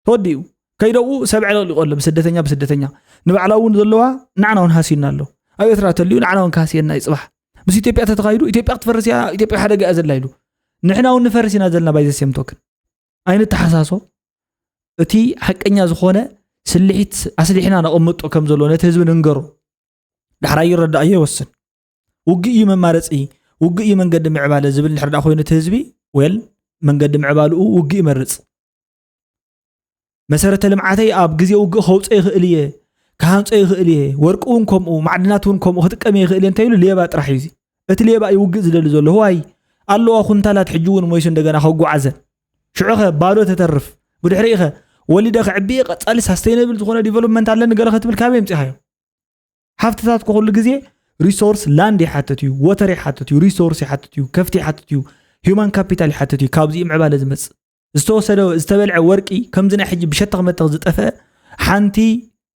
ተወዲኡ ከይደኡ ሰብ ዕለቅሊቆ ኣሎ ብስደተኛ ብስደተኛ ንባዕላ እውን ዘለዋ ንዓና እውን ሃስዩና ኣሎ ኣብ ኤርትራ ተልዩ ንዓና እውን ካህስየና እዩ ፅባሕ ምስ ኢትዮጵያ ተተኻይዱ ኢትዮጵያ ክትፈርስ እያ ኢትዮጵያ ሓደጋ እያ ዘላ ኢሉ ንሕና እውን ንፈርስ ኢና ዘለና ባይ ዘሴም ቶክን ኣይንተሓሳሶ እቲ ሓቀኛ ዝኾነ ስልሒት ኣስሊሕና ነቐምጦ ከም ዘሎ ነቲ ህዝቢ ንንገሮ ዳሕራ ይረዳእዮ ይወስን ውግእ እዩ መማረፂ ውግእ እዩ መንገዲ ምዕባለ ዝብል ንሕርዳ ኮይኑ እቲ ህዝቢ ወል መንገዲ ምዕባልኡ ውግእ ይመርፅ መሰረተ ልምዓተይ ኣብ ግዜ ውግእ ከውፀ ይኽእል እየ ክሃንፆ ይኽእል እየ ወርቂ እውን ከምኡ ማዕድናት እውን ከምኡ ክጥቀም እየ ይኽእል እየ እንተይሉ ሌባ ጥራሕ እዩ እቲ ሌባ እዩ ውግእ ዝደሊ ዘሎ ዋይ ኣለዋ ኩንታላት ሕጂ እውን ሞይሱ እንደገና ከጓዓዘን ሽዑ ኸ ባዶ ተተርፍ ብድሕሪ ኸ ወሊደ ክዕብየ ቀፃሊ ሳስተይነብል ዝኾነ ዲቨሎፕመንት ኣለኒ ገለ ከትብል ካበይ ምፅኻዮ ሃፍትታት ኩሉ ግዜ ሪሶርስ ላንድ ይሓትት እዩ ወተር ይሓትት እዩ ሪሶርስ ይሓትት እዩ ከፍቲ ይሓትት እዩ ሂማን ካፒታል ይሓትት እዩ ካብዚ ምዕባለ ዝመፅእ ዝተወሰደ ዝተበልዐ ወርቂ ከምዚ ናይ ሕጂ ብሸተኽ መተኽ ዝጠፍአ ሓንቲ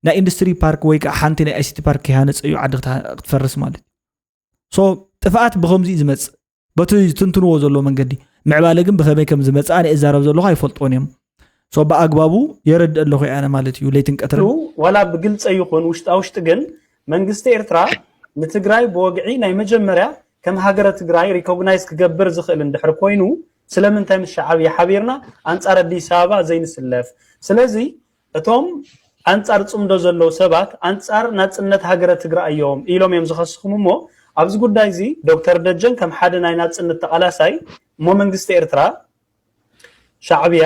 ናይ ኢንዱስትሪ ፓርክ ወይ ከዓ ሓንቲ ናይ ኣይሲቲ ፓርክ ክሃነፅ እዩ ዓዲ ክትፈርስ ማለት ሶ ጥፍኣት ብከምዚ እዩ ዝመፅእ በቲ ዝትንትንዎ ዘሎ መንገዲ ምዕባለ ግን ብከመይ ከም ዝመፅኣ ናይ እዛረብ ዘለኹ ኣይፈልጥዎን እዮም ሶ ብኣግባቡ የረድእ ኣለኹ ያነ ማለት እዩ ለይትን ቀትሪ ዋላ ብግልፀ ይኹን ውሽጣ ውሽጢ ግን መንግስቲ ኤርትራ ንትግራይ ብወግዒ ናይ መጀመርያ ከም ሃገረ ትግራይ ሪኮግናይዝ ክገብር ዝኽእል እንድሕር ኮይኑ ስለምንታይ ምስ ሻዓብያ ሓቢርና ኣንጻር ኣዲስ ኣበባ ዘይንስለፍ ስለዚ እቶም ኣንጻር ጽምዶ ዘለዉ ሰባት ኣንጻር ናጽነት ሃገረ ትግራይ እዮም ኢሎም እዮም ዝኸስኹም እሞ ኣብዚ ጉዳይ እዚ ዶክተር ደጀን ከም ሓደ ናይ ናጽነት ተቓላሳይ እሞ መንግስቲ ኤርትራ ሻዕብያ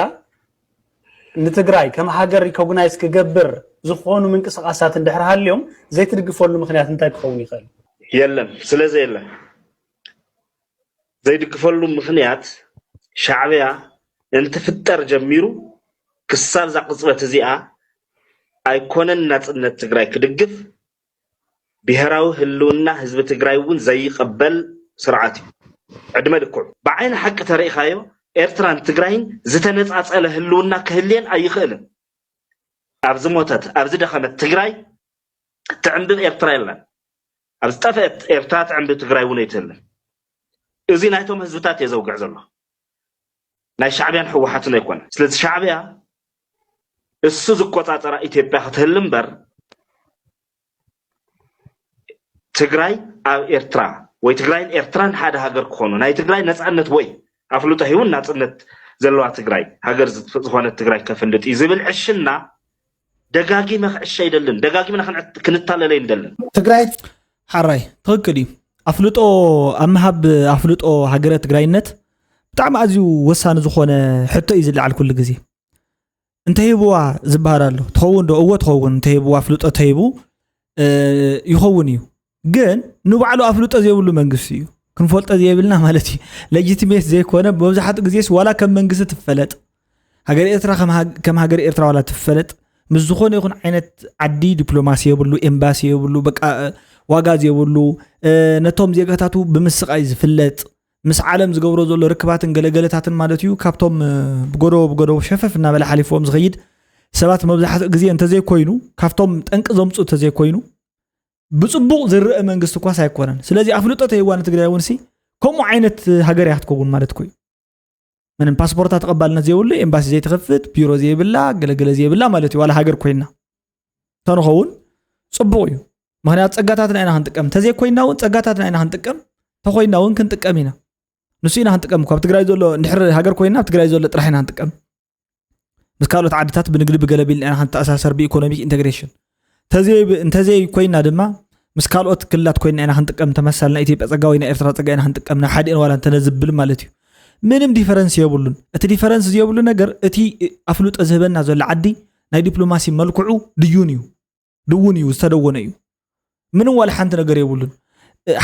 ንትግራይ ከም ሃገር ሪኮግናይዝ ክገብር ዝኾኑ ምንቅስቓሳት እንድሕር ሃልዮም ዘይትድግፈሉ ምክንያት እንታይ ክኸውን ይኽእል? የለን ስለዘየለ ዘይድግፈሉ ምክንያት ሻዕብያ እንትፍጠር ጀሚሩ ክሳብ እዛ ቅፅበት እዚኣ ኣይኮነን ናፅነት ትግራይ ክድግፍ ብሄራዊ ህልውና ህዝቢ ትግራይ እውን ዘይቕበል ስርዓት እዩ። ዕድመ ልክዑ። ብዓይኒ ሓቂ ተሪኢኻዮ ኤርትራን ትግራይን ዝተነፃፀለ ህልውና ክህልየን ኣይኽእልን። ኣብ ዝሞተት፣ ኣብ ዝደኸመት ትግራይ ትዕንብብ ኤርትራ የላን። ኣብ ዝጠፍኤት ኤርትራ ትዕንብብ ትግራይ እውን ኣይትህልን። እዙይ ናይቶም ህዝብታት እየ ዘውግዕ ዘለኹ። ናይ ሻዕብያን ህወሓትን ኣይኮነን። ስለዚ ሻዕብያ እሱ ዝቆፃፀራ ኢትዮጵያ ክትህሉ እምበር ትግራይ ኣብ ኤርትራ ወይ ትግራይን ኤርትራን ሓደ ሃገር ክኾኑ ናይ ትግራይ ነፃነት ወይ ኣፍልጦ ሂቡን ናፅነት ዘለዋ ትግራይ ሃገር ዝኾነት ትግራይ ከፍልጥ እዩ ዝብል ዕሽና ደጋጊመ ክዕሸ ኣይደልን ደጋጊምና ክንታለል ኣይንደልን። ትግራይ ሓራይ ትኽክል እዩ። ኣፍልጦ ኣብ ምሃብ ኣፍልጦ ሃገረ ትግራይነት ብጣዕሚ ኣዝዩ ወሳኒ ዝኾነ ሕቶ እዩ ዝለዓል ኩሉ ግዜ እንተሂብዋ ዝበሃል ኣሎ ትኸውን ዶ እወ ትኸውን እንተሂብዋ ኣፍልጦ ተሂቡ ይኸውን እዩ ግን ንባዕሉ ኣፍልጦ ዘይብሉ መንግስቲ እዩ ክንፈልጦ ዘይብልና ማለት እዩ ሌጂቲሜት ዘይኮነ መብዛሕትኡ ግዜስ ዋላ ከም መንግስቲ ትፈለጥ ሃገር ኤርትራ ከም ሃገር ኤርትራ ዋላ ትፈለጥ ምስ ዝኾነ ይኹን ዓይነት ዓዲ ዲፕሎማሲ የብሉ ኤምባሲ የብሉ በቃ ዋጋ ዘይብሉ ነቶም ዜጋታቱ ብምስቃይ ዝፍለጥ ምስ ዓለም ዝገብሮ ዘሎ ርክባትን ገለገለታትን ማለት እዩ ካብቶም ብጎደቦ ብጎደቦ ሸፈፍ እናበለ ሓሊፎም ዝኸይድ ሰባት መብዛሕትኡ ግዜ እንተዘይኮይኑ ካብቶም ጠንቂ ዘምፁ እንተዘይኮይኑ ብፅቡቕ ዝረአ መንግስቲ እኳስ ኣይኮነን ስለዚ ኣፍልጦ ተይዋ ንትግራይ እውን ሲ ከምኡ ዓይነት ሃገር እያ ክትከውን ማለት ኮዩ ምንም ፓስፖርታ ተቐባልነት ዘይብሉ ኤምባሲ ዘይትኸፍት ቢሮ ዘይብላ ገለገለ ዘይብላ ማለት እዩ ዋላ ሃገር ኮይና ተንኸውን ፅቡቕ እዩ ምክንያቱ ፀጋታትና ኢና ክንጥቀም እንተዘይኮይና እውን ፀጋታትና ኢና ክንጥቀም ተኮይና እውን ክንጥቀም ኢና ንሱ ኢና ክንጥቀም እኳ ኣብ ትግራይ ዘሎ ንድሕሪ ሃገር ኮይና ኣብ ትግራይ ዘሎ ጥራሕ ኢና ክንጥቀም ምስ ካልኦት ዓድታት ብንግዲ ብገለ ቢልና ክንተኣሳሰር ብኢኮኖሚክ ኢንቴግሬሽን እንተዘይ ኮይና ድማ ምስ ካልኦት ክልላት ኮይና ኢና ክንጥቀም ተመሳል ናይ ኢትዮጵያ ፀጋ ወይ ናይ ኤርትራ ፀጋ ኢና ክንጥቀም ናብ ሓደ ዋላ እንተነዝብል ማለት እዩ ምንም ዲፈረንስ የብሉን እቲ ዲፈረንስ ዘየብሉ ነገር እቲ ኣፍልጦ ዝህበና ዘሎ ዓዲ ናይ ዲፕሎማሲ መልክዑ ድዩን እዩ ድውን እዩ ዝተደወነ እዩ ምንም ዋላ ሓንቲ ነገር የብሉን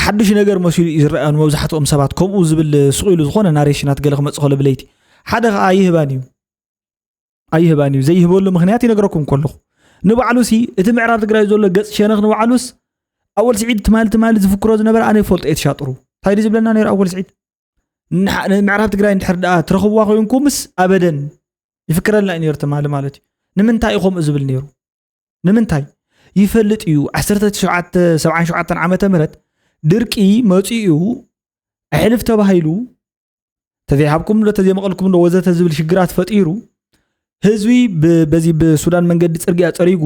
ሓድሽ ነገር መሲሉ እዩ ዝረኣ ንመብዛሕትኦም ሰባት ከምኡ ዝብል ስቂሉ ዝኾነ ናሬሽናት ገለ ክመፅእ ከሎ ብለይቲ ሓደ ከዓ ኣይህባን እዩ ኣይህባን እዩ ዘይህበሉ ምክንያት ይነግረኩም ከለኹ ንባዕሉ ሲ እቲ ምዕራብ ትግራይ ዘሎ ገፅ ሸነኽ ንባዕሉስ ኣወል ስዒድ ትማሊ ትማሊ ዝፍክሮ ዝነበረ ኣነ ይፈልጦ እየ ትሻጥሩ እንታይ ድዩ ዝብለና ነይሩ ኣወል ስዒድ ምዕራብ ትግራይ እንድሕር ደኣ ትረኽብዋ ኮይንኩምስ ኣበደን ይፍክረልና እዩ ነይሩ ትማሊ ማለት እዩ ንምንታይ እዩ ከምኡ ዝብል ነይሩ ንምንታይ ይፈልጥ እዩ 1977 ዓ ም ድርቂ መፅኡ ኣሕልፍ ተባሂሉ ተዘይሃብኩም ዶ ተዘይመቐልኩም ዶ ወዘተ ዝብል ሽግራት ፈጢሩ ህዝቢ በዚ ብሱዳን መንገዲ ፅርግያ ፀሪጉ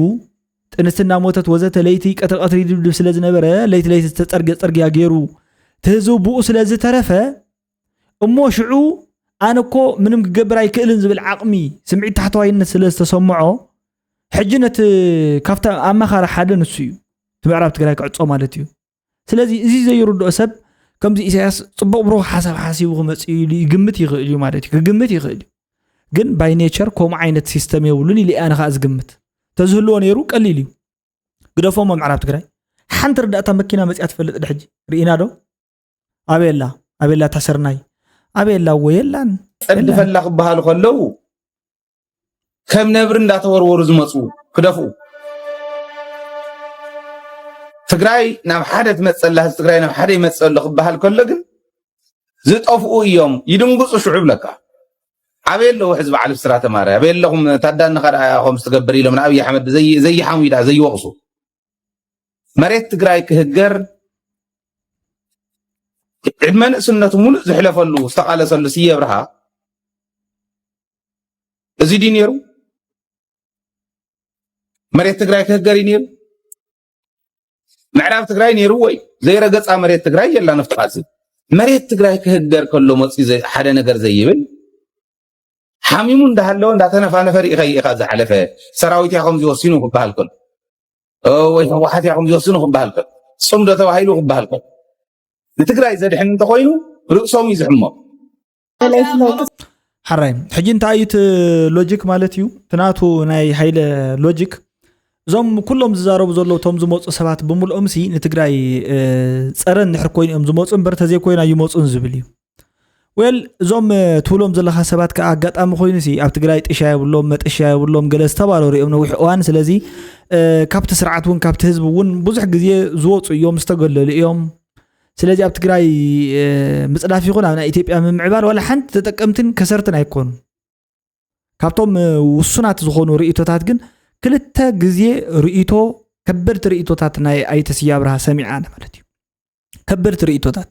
ጥንስቲ እናሞተት ወዘተ ለይቲ ቀትሪ ቀትሪ ድብድብ ስለ ዝነበረ ለይቲ ለይቲ ዝተፀርገ ፅርግያ ገይሩ እቲ ህዝቢ ብኡ ስለ ዝተረፈ እሞ ሽዑ ኣነ እኮ ምንም ክገብር ኣይክእልን ዝብል ዓቕሚ ስምዒት ታሕተዋይነት ስለ ዝተሰምዖ ሕጂ ነቲ ካብቲ ኣማኻሪ ሓደ ንሱ እዩ እቲ ምዕራብ ትግራይ ክዕፆ ማለት እዩ ስለዚ እዚ ዘይርድኦ ሰብ ከምዚ ኢሳያስ ፅቡቅ ብሩክ ሓሳብ ሓሲቡ ክመፅእ ኢሉ ይግምት ይኽእል እዩ ማለት እዩ ክግምት ይኽእል እዩ ግን ባይ ኔቸር ከምኡ ዓይነት ሲስተም የብሉን ኢሉ ኣነ ከዓ ዝግምት ተዝህልዎ ነይሩ ቀሊል እዩ ግደፎሞ ምዕራብ ትግራይ ሓንቲ ርዳእታ መኪና መፅያ ትፈልጥ ድሕጂ ርኢና ዶ ኣበየላ ኣበየላ እታ ስርናይ ኣበየላ እዎ የላን ጸድፈላ ክበሃሉ ከለዉ ከም ነብሪ እንዳተወርወሩ ዝመፁ ክደፍኡ ትግራይ ናብ ሓደ ትመፀላ ህዝቢ ትግራይ ናብ ሓደ ይመፀሎ ክበሃል ከሎ ግን ዝጠፍኡ እዮም ይድንግፁ ሽዑ ብለካ ኣበይ ኣለዉ ሕዚ በዓል ብስራ ተማረ ኣበይ ኣለኹም ታዳንኻ ደኣ ከምዚ ትገብር ኢሎም ንኣብዪ ኣሕመድ ዘይሓሙ ደኣ ዘይወቕሱ መሬት ትግራይ ክህገር ዕድመ ንእስነቱ ሙሉእ ዝሕለፈሉ ዝተቃለሰሉ ስየ ብርሃ እዚ ድዩ ነይሩ? መሬት ትግራይ ክህገር እዩ ነይሩ? ምዕራብ ትግራይ ነይሩ ወይ ዘይረገፃ መሬት ትግራይ የላ ነፍጥቃዚ መሬት ትግራይ ክህገር ከሎ መፅኡ ሓደ ነገር ዘይብል ሓሚሙ እንዳሃለወ እንዳተነፋነፈ ርኢኸ ኢኻ ዝሓለፈ ሰራዊት ያኸም ዝወሲኑ ክበሃል ከሎ ወይ ህወሓት ያኸም ዝወስኑ ክበሃል ከሎ ፅምዶ ተባሂሉ ክበሃል ከሎ ንትግራይ ዘድሕን እንተኮይኑ ርእሶም እዩ ዝሕሞ ሓራይ ሕጂ እንታይ እዩ እቲ ሎጂክ ማለት እዩ ትናቱ ናይ ሃይለ ሎጂክ እዞም ኩሎም ዝዛረቡ ዘለዉ እቶም ዝመፁ ሰባት ብምልኦም ሲ ንትግራይ ፀረን ንሕር ኮይኑ እዮም ዝመፁ እምበር ተዘይኮይና ይመፁን ዝብል እዩ ወል እዞም ትብሎም ዘለካ ሰባት ከዓ ኣጋጣሚ ኮይኑ ሲ ኣብ ትግራይ ጥሻ የብሎም መጠሻ የብሎም ገለ ዝተባረሩ እዮም ነዊሕ እዋን ስለዚ ካብቲ ስርዓት እውን ካብቲ ህዝቢ እውን ብዙሕ ግዜ ዝወፁ እዮም ዝተገለሉ እዮም ስለዚ ኣብ ትግራይ ምፅዳፍ ይኹን ኣብ ናይ ኢትዮጵያ ምምዕባል ዋላ ሓንቲ ተጠቀምትን ከሰርትን ኣይኮኑ ካብቶም ውሱናት ዝኾኑ ርእቶታት ግን ክልተ ግዜ ርእቶ ከበድቲ ርእቶታት ናይ ኣይተስያ ብርሃ ሰሚዓ ማለት እዩ ከበድቲ ርእይቶታት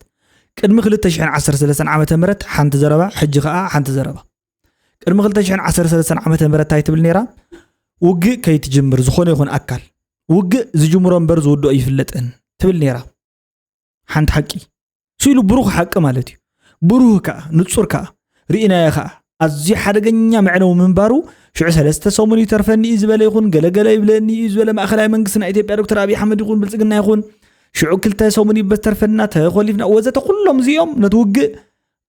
ቅድሚ 213 ዓ ም ሓንቲ ዘረባ ሕጂ ከዓ ሓንቲ ዘረባ ቅድሚ 213 ዓ ም እንታይ ትብል ነይራ ውግእ ከይትጅምር ዝኾነ ይኹን ኣካል ውግእ ዝጅምሮ እምበር ዝውድኦ ይፍለጥን ትብል ነይራ ሓንቲ ሓቂ ስኢሉ ብሩኽ ሓቂ ማለት እዩ ብሩህ ከኣ ንጹር ከኣ ርኢናዮ ከኣ ኣዝዩ ሓደገኛ መዕነዊ ምንባሩ ሽዑ ሰለስተ ሰሙን ይተርፈኒ እዩ ዝበለ ይኹን ገለገለ ይብለኒ እዩ ዝበለ ማእኸላይ መንግስቲ ናይ ኢትዮጵያ ዶክተር ኣብዪ ኣሕመድ ይኹን ብልፅግና ይኹን ሽዑ ክልተ ሰሙን ይበተርፈና ተኮሊፍና ወዘተ ኩሎም እዚኦም ነቲ ውግእ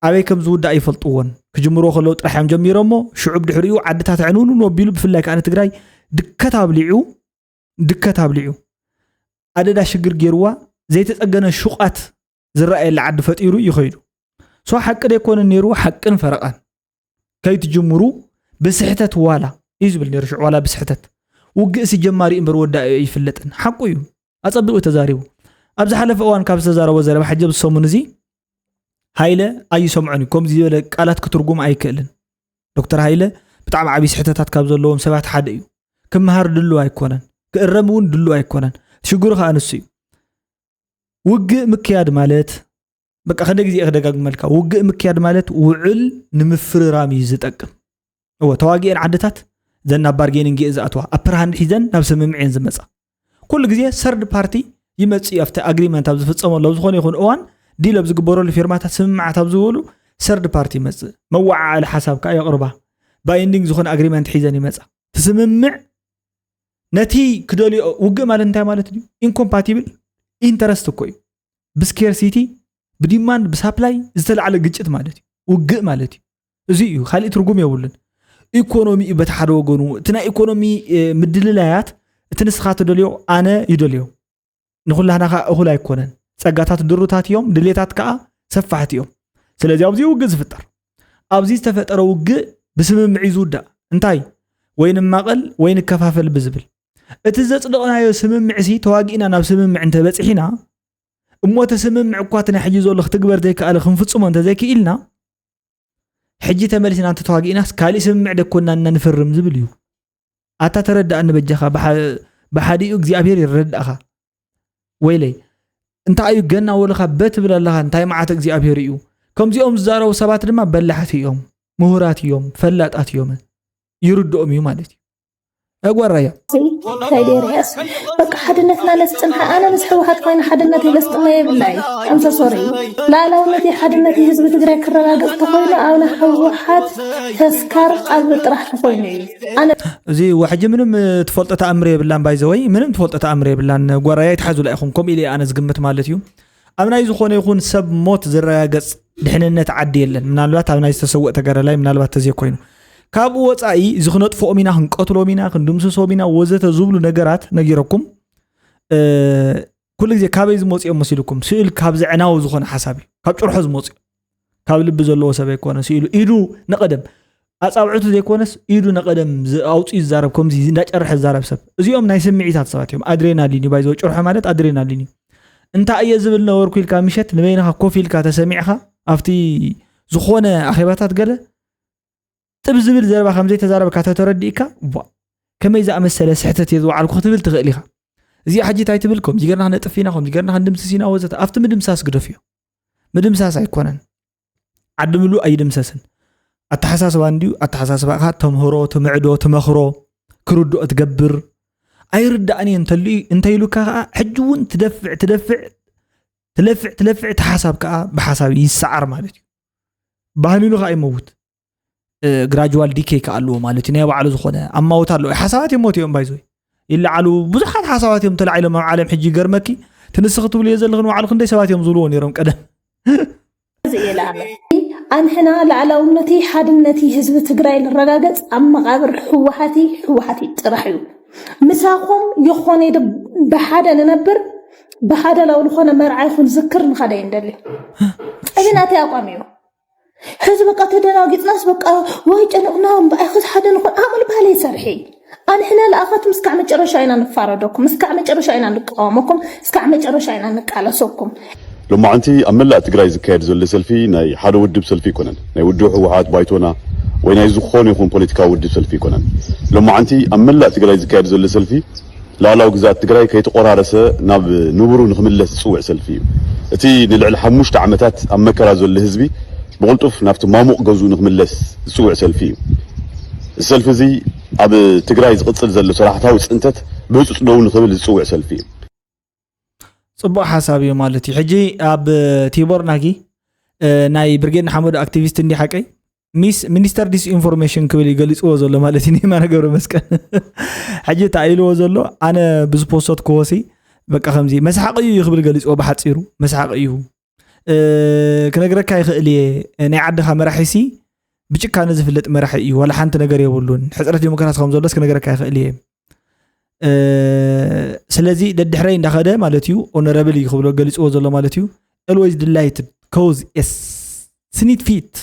ኣበይ ከም ዝውዳእ ይፈልጥዎን ክጅምሮ ከለዉ ጥራሕ እዮም ጀሚሮሞ ሽዑ ብድሕሪኡ ዓድታት ዕንውንውን ኣቢሉ ብፍላይ ከዓ ንትግራይ ድከት ኣብሊዑ ድከት ኣብሊዑ ኣደዳ ሽግር ገይርዋ ዘይተፀገነ ሽቋት ዝረኣየላ ዓዲ ፈጢሩ እዩ ከይዱ ሶ ሓቂ ደይኮነ ነይሩ ሓቅን ፈረቓን ከይትጅምሩ ብስሕተት ዋላ እዩ ዝብል ነይሩ ሽዑ ዋላ ብስሕተት ውግእሲ ጀማሪ እምበር ወዳኢ ኣይፍለጥን ሓቁ እዩ ኣፀቢቑ እዩ ተዛሪቡ ኣብ ዝሓለፈ እዋን ካብ ዝተዛረቦ ዘረባ ሕጂ ኣብ ዝሰሙን እዚ ሃይለ ኣይሰምዖን እዩ ከምዚ ዝበለ ቃላት ክትርጉም ኣይክእልን ዶክተር ሃይለ ብጣዕሚ ዓብዪ ስሕተታት ካብ ዘለዎም ሰባት ሓደ እዩ ክምሃር ድሉ ኣይኮነን ክእረም እውን ድሉ ኣይኮነን ሽግሩ ከዓ ንሱ እዩ ውግእ ምክያድ ማለት በቃ ከደ ግዜ ክደጋግመልካ ውግእ ምክያድ ማለት ውዕል ንምፍርራም እዩ ዝጠቅም እወ ተዋጊኤን ዓድታት ዘን ናብ ባርጌኒንግ እየ ዝኣትዋ ኣብ ፕርሃን ሒዘን ናብ ስምምዕ እየን ዝመፃ ኩሉ ግዜ ሰርድ ፓርቲ ይመፅ እዩ ኣብቲ ኣግሪመንት ኣብ ዝፍፀመሉ ኣብ ዝኾነ ይኹን እዋን ዲል ኣብ ዝግበረሉ ፊርማታት ስምምዓት ኣብ ዝበሉ ሰርድ ፓርቲ ይመፅእ መወዓዓሊ ሓሳብ ከዓ የቕርባ ባይንዲንግ ዝኾነ ኣግሪመንት ሒዘን ይመፃ እቲ ስምምዕ ነቲ ክደልዮ ውግእ ማለት እንታይ ማለት እዩ ኢንኮምፓቲብል ኢንተረስት እኮ እዩ ብስኬር ሲቲ ብዲማንድ ብሳፕላይ ዝተላዕለ ግጭት ማለት እዩ ውግእ ማለት እዩ እዚ እዩ ካልእ ትርጉም የብሉን ኢኮኖሚ እዩ በቲ ሓደ ወገኑ እቲ ናይ ኢኮኖሚ ምድልላያት እቲ ንስኻ ትደልዮ ኣነ ይደልዮ ንኹላህና ከዓ እኹል ኣይኮነን ጸጋታት ድሩታት እዮም ድሌታት ከዓ ሰፋሕቲ እዮም ስለዚ ኣብዚ ውግእ ዝፍጠር ኣብዚ ዝተፈጠረ ውግእ ብስምምዕ እዩ ዝውዳእ እንታይ ወይ ንማቐል ወይ ንከፋፈል ብዝብል እቲ ዘፅደቕናዮ ስምምዕ ሲ ተዋጊእና ናብ ስምምዕ እንተበፅሒና እሞ እቲ ስምምዕ እኳ እቲ ናይ ሕጂ ዘሎ ክትግበር ዘይከኣለ ክንፍፅሞ እንተዘይክኢልና ሕጂ ተመሊስና እንተተዋጊእናስ ካሊእ ስምምዕ ደኮና እና ንፍርም ዝብል እዩ ኣታ ተረዳእኒ በጃኻ ብሓዲኡ እግዚኣብሄር ይረዳእኻ ወይለይ እንታይ እዩ ገና ወልኻ በትብል ኣለኻ እንታይ መዓት እግዚኣብሄር እዩ ከምዚኦም ዝዛረቡ ሰባት ድማ በላሕቲ እዮም ምሁራት እዮም ፈላጣት እዮም ይርድኦም እዩ ማለት እዩ ያጓራያ እንታይ ደርያስ በቃ ሓድነትና ለስጥን ኣነ ምስ ሕወሓት ኮይነ ሓድነት ለስጥና የብላይ ኣምሰሶሪ ላእላውነት ሓድነት ህዝቢ ትግራይ ክረጋገፅ ተኮይኑ ኣብና ሕወሓት ተስካር ቃልቢ ጥራሕ ተኮይኑ እዩ እዚ ዋሕጂ ምንም ትፈልጦ ተኣምር የብላን ባይዘወይ ምንም ትፈልጦ ተኣምር የብላን ጓራይ ኣይትሓዙላ ኢኹም ከምኡ ኢለ ኣነ ዝግምት ማለት እዩ ኣብ ናይ ዝኾነ ይኹን ሰብ ሞት ዝረጋገፅ ድሕንነት ዓዲ የለን ምናልባት ኣብ ናይ ዝተሰወእ ተጋዳላይ ምናልባት ተዘይ ኮይኑ ካብኡ ወፃኢ እዚ ክነጥፍኦም ኢና ክንቀትሎም ኢና ክንድምስሶም ኢና ወዘተ ዝብሉ ነገራት ነጊረኩም ኩሉ ግዜ ካበይ ዝመፁ እዮም መሲልኩም ስእሉ ካብ ዘዕናዊ ዝኾነ ሓሳብ እዩ ካብ ጭርሖ ዝመፁ እዩ ካብ ልቢ ዘለዎ ሰብ ኣይኮነ ስኢሉ ኢዱ ንቐደም ኣፃብዕቱ ዘይኮነስ ኢዱ ንቐደም ኣውፅኡ ዝዛረብ ከምዚ እንዳጨርሐ ዝዛረብ ሰብ እዚኦም ናይ ስምዒታት ሰባት እዮም ኣድሬናሊን እዩ ባይዘወ ጭርሖ ማለት ኣድሬናሊን እዩ እንታይ እየ ዝብል ነበርኩ ኢልካ ምሸት ንበይንኻ ኮፍ ኢልካ ተሰሚዕኻ ኣብቲ ዝኾነ ኣኼባታት ገለ ጥብ ዝብል ዘረባ ከም ዘይተዛረብካ ተተረዲእካ ቧእ ከመይ ዝኣመሰለ ስሕተት እየ ዝወዓልኩ ክትብል ትኽእል ኢኻ እዚኣ ሕጂ እንታይ ትብል ከምዚ ገርና ክነጥፍ ኢና ከምዚ ገርና ክንድምስስ ኢና ወዘተ ኣብቲ ምድምሳስ ግደፍዮ ምድምሳስ ኣይኮነን ዓዲ ምሉእ ኣይድምሰስን ኣተሓሳስባ እንድዩ ኣተሓሳስባኻ ተምህሮ ትምዕዶ ትመኽሮ ክርድኦ ትገብር ኣይርዳእን እየ እንተልዩ እንተይሉካ ከዓ ሕጂ እውን ትደፍዕ ትደፍዕ ትለፍዕ ትለፍዕ እቲ ሓሳብ ከዓ ብሓሳብ ይሰዓር ማለት እዩ ባህሊሉ ከዓ ይመውት ግራጅዋል ዲኬይ ከዓ ኣለዎ ማለት እዩ ናይ ባዕሉ ዝኾነ ኣማወት ኣለዎ ሓሳባት እዮም ሞት እዮም ባይዞ ይለዓሉ ብዙሓት ሓሳባት እዮም ተላዒሎም ኣብ ዓለም ሕጂ ይገርመኪ ትንስኺ ትብልዮ ዘለኽ ንባዕሉ ክንደይ ሰባት እዮም ዝብልዎ ነይሮም ቀደም ኣንሕና ላዕላውነቲ ሓድነቲ ህዝቢ ትግራይ ንረጋገፅ ኣብ መቓብር ህወሓቲ ህወሓቲ ጥራሕ እዩ ምሳኹም ይኾነ ብሓደ ንነብር ብሓደ ላው ዝኾነ መርዓ ይኹን ዝክር ንኸደ ይንደልዩ እዚ ናተይ ኣቋም እዩ ሕዚ በቃ ተደናጊጽናስ በቃ ዋይ ጨንቕና እምበኣይ ኸዚ ሓደ ንኾን ኣቕል ባህል ይሰርሒ ኣንሕና ለኣኻትም እስካዕ መጨረሻ ኢና ንፋረደኩም እስካዕ መጨረሻ ኢና ንቃወመኩም እስካዕ መጨረሻ ኢና ንቃለሰኩም ሎማዓንቲ ኣብ መላእ ትግራይ ዝካየድ ዘሎ ሰልፊ ናይ ሓደ ውድብ ሰልፊ ኣይኮነን ናይ ውድብ ህወሓት ባይቶና ወይ ናይ ዝኾነ ይኹን ፖለቲካዊ ውድብ ሰልፊ ኣይኮነን ሎማዓንቲ ኣብ መላእ ትግራይ ዝካየድ ዘሎ ሰልፊ ላላዊ ግዝኣት ትግራይ ከይተቖራረሰ ናብ ንቡሩ ንክምለስ ዝፅውዕ ሰልፊ እዩ። እቲ ንልዕሊ ሓሙሽተ ዓመታት ኣብ መከራ ዘሎ ህዝቢ ብቕልጡፍ ናብቲ ማሙቕ ገዝኡ ንክምለስ ዝፅውዕ ሰልፊ እዩ። እዚ ሰልፊ እዚ ኣብ ትግራይ ዝቕፅል ዘሎ ሰራሕታዊ ፅንተት ብህፁፅ ደው ንክብል ዝፅውዕ ሰልፊ እዩ። ፅቡቅ ሓሳብ እዩ ማለት እዩ ሕጂ ኣብ ቲቦር ናጊ ናይ ብርጌድ ንሓመዱ ኣክቲቪስት እንዲ ሓቀይ ሚስ ሚኒስተር ዲስ ኢንፎርሜሽን ክብል እዩ ገሊፅዎ ዘሎ ማለት እዩ ንየማነ ገብረ መስቀል ሕጂ እታ ኢልዎ ዘሎ ኣነ ብዝፖሰት ክወሲ በቃ ከምዚ መስሓቂ እዩ ክብል ገሊፅዎ ብሓፂሩ መስሓቂ እዩ ክነግረካ ይኽእል እየ ናይ ዓድኻ መራሒሲ ብጭካነ ዝፍለጥ መራሒ እዩ ዋላ ሓንቲ ነገር የብሉን ሕፅረት ዲሞክራሲ ከም ዘሎስ ክነግረካ ይኽእል እየ ስለዚ ደድሕረይ እንዳኸደ ማለት እዩ ኦነረብል እዩ ክብሎ ገሊፅዎ ዘሎ ማለት እዩ ኤልወይዝ ድላይትድ ኮዝ ስኒት ፊት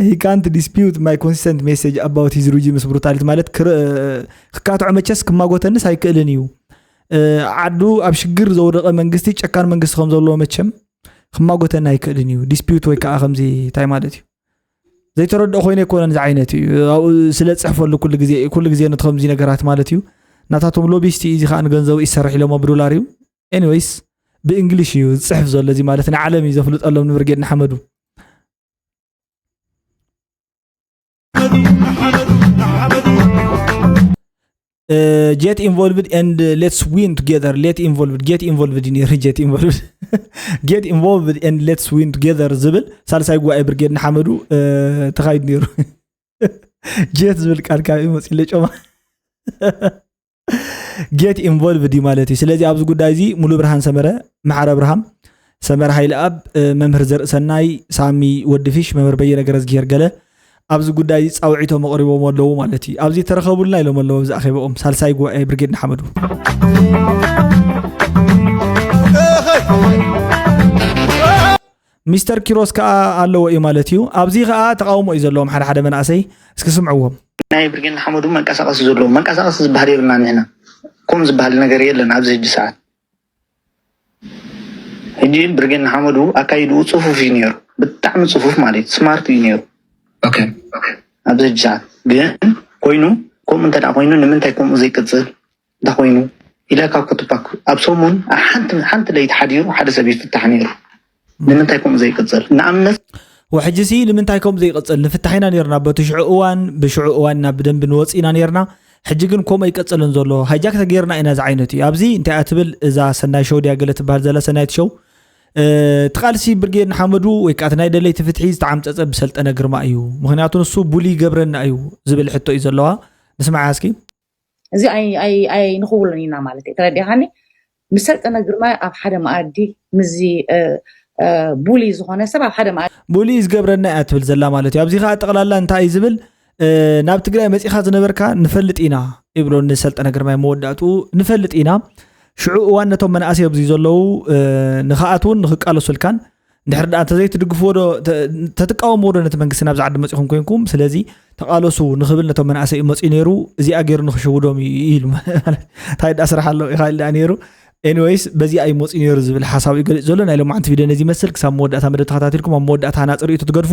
ሂ ካንት ዲስፒዩት ማይ ኮንሲስተንት ሜሴጅ ኣባውት ሂዝ ሪጂምስ ብሩታሊቲ ማለት ክካትዖ መቸስ ክማጎተንስ ኣይክእልን እዩ ዓዱ ኣብ ሽግር ዘውደቐ መንግስቲ ጨካን መንግስቲ ከም ዘለዎ መቸም ክማጎተኒ ኣይክእልን እዩ ዲስፒዩት ወይ ከዓ ከምዚ እንታይ ማለት እዩ ዘይተረድኦ ኮይነ ኣይኮነን እዚ ዓይነት እዩ ኣብኡ ስለ ፅሕፈሉ ኩሉ ግዜ ኩሉ ግዜ ነቲ ከምዚ ነገራት ማለት እዩ ናታቶም ሎቢስቲ እዚ ከዓ ንገንዘቡ ይሰርሕ ኢሎሞ ብዶላር እዩ ኤኒወይስ ብእንግሊሽ እዩ ዝፅሕፍ ዘሎ እዚ ማለት ንዓለም እዩ ዘፍልጠሎም ንብርጌድ ንሓመዱ ጀት ኢንቮልቭድ ኤንድ ሌትስ ዊን ቱጌዘር ሌት ኢንቮልቭድ ጌት ኢንቮልቭድ እዩ ነይሩ ጀት ኢንቮልቭድ ጌት ኢንቮልቭድ ኤንድ ሌትስ ዊን ቱጌዘር ዝብል ሳልሳይ ጉባኤ ብርጌድ ንሓመዱ ተኻይዱ ነይሩ ጀት ዝብል ቃል ካብ እዩ መፅለ ጮማ ጌት ኢንቮልቭድ እዩ ማለት እዩ ስለዚ ኣብዚ ጉዳይ እዚ ሙሉ ብርሃን ሰመረ ማዕረ ብርሃም ሰመረ ሃይለ ኣብ መምህር ዘርእሰናይ ሳሚ ወድፊሽ መምህር በየነ ገረዝጊሄር ገለ ኣብዚ ጉዳይ እዚ ፃውዒቶም ኣቕሪቦም ኣለዉ ማለት እዩ ኣብዚ ተረኸቡልና ኢሎም ኣለዎ ኣብዚ ኣኼበኦም ሳልሳይ ጉባኤ ብርጌድ ንሓመዱ ሚስተር ኪሮስ ከኣ ኣለዎ እዩ ማለት እዩ። ኣብዚ ከኣ ተቃውሞ እዩ ዘለዎም ሓደ ሓደ መናእሰይ እስኪ ስምዕዎም። ናይ ብርጌድ ንሓመዱ መንቀሳቀሲ ዘለዎ መንቀሳቀሲ ዝበሃል የብልና ንሕና ኮም ዝበሃል ነገር የለን ኣብዚ ሕጂ ሰዓት ሕጂ ብርጌድ ንሓመዱ ኣካይድኡ ፅፉፍ እዩ ነይሩ ብጣዕሚ ፅፉፍ ማለት ስማርት እዩ ነይሩ ኣብዚ ሕጂ ሰዓት ግን ኮይኑ ከምኡ እንተ ኮይኑ ንምንታይ ከምኡ ዘይቅፅል እንተኾይኑ ኢለካ ኩቱፓክ ኣብ ሰሙን ሓንቲ ሓንቲ ለይቲ ሓዲሩ ሓደ ሰብ ይፍታሕ ነይሩ ንምንታይ ከምኡ ዘይቅፅል ንኣብነት ወሕጂ ሲ ንምንታይ ከምኡ ዘይቅፅል ንፍታሕ ኢና ነርና በቲ ሽዑ እዋን ብሽዑ እዋን ኢና ብደንቢ ንወፅ ኢና ነርና ሕጂ ግን ከምኡ ኣይቀፅልን ዘሎ ሃይጃክ ተገይርና ኢና እዚ ዓይነት እዩ ኣብዚ እንታይ እያ ትብል እዛ ሰናይ ሸው ድያ ገለ ትበሃል ዘላ ሰናይት ሸው እቲ ቃልሲ ብርጌድ ንሓመዱ ወይ ከዓ ናይ ደለይቲ ፍትሒ ዝተዓምፀፀ ብሰልጠነ ግርማ እዩ ምክንያቱ ንሱ ቡሊ ገብረና እዩ ዝብል ሕቶ እዩ ዘለዋ ንስማዓ እስኪ እዚ ኣይንኽውሎን ኢና ማለት እዩ ተረዲኻኒ ምስ ሰልጠነ ግርማ ኣብ ሓደ መኣዲ ምዚ ቡሊ ዝኾነ ሰብ ኣብ ሓደ መኣዲ ቡሊ ዝገብረና እያ ትብል ዘላ ማለት እዩ ኣብዚ ከዓ ጠቕላላ እንታይ እዩ ዝብል ናብ ትግራይ መፂኻ ዝነበርካ ንፈልጥ ኢና ይብሎ ንሰልጠነ ግርማይ መወዳእትኡ ንፈልጥ ኢና ሽዑ እዋን ነቶም መናእሰይ ኣብዚ ዘለዉ ንክኣትውን ንክቃለሱልካን ድሕር ድኣ እንተዘይትድግፍዎ ዶ ተትቃወምዎ ዶ ነቲ መንግስቲ ናብዚ ዓዲ መፂኹም ኮንኩም ስለዚ ተቓለሱ ንክብል ነቶም መናእሰይ እዩ መፅኡ ነይሩ እዚኣ ገይሩ ንክሽውዶም እዩ ኢሉ እንታይ ድኣ ስራሕ ኣለዎ ኢኻ ድኣ ነይሩ ኤኒወይስ በዚኣ እዩ መፅኡ ነይሩ ዝብል ሓሳብ እዩ ገሊፅ ዘሎ ናይ ሎማዓንቲ ቪድዮ ነዚ ይመስል ክሳብ መወዳእታ መደብ ተኸታቲልኩም ኣብ መወዳእታ ሃናፂ ርእይቶ ትገድፉ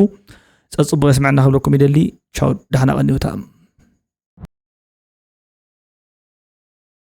ፀፅቡቕ የስምዐና ክብለኩም ይደሊ ቻው ዳሕና ቀኒውታ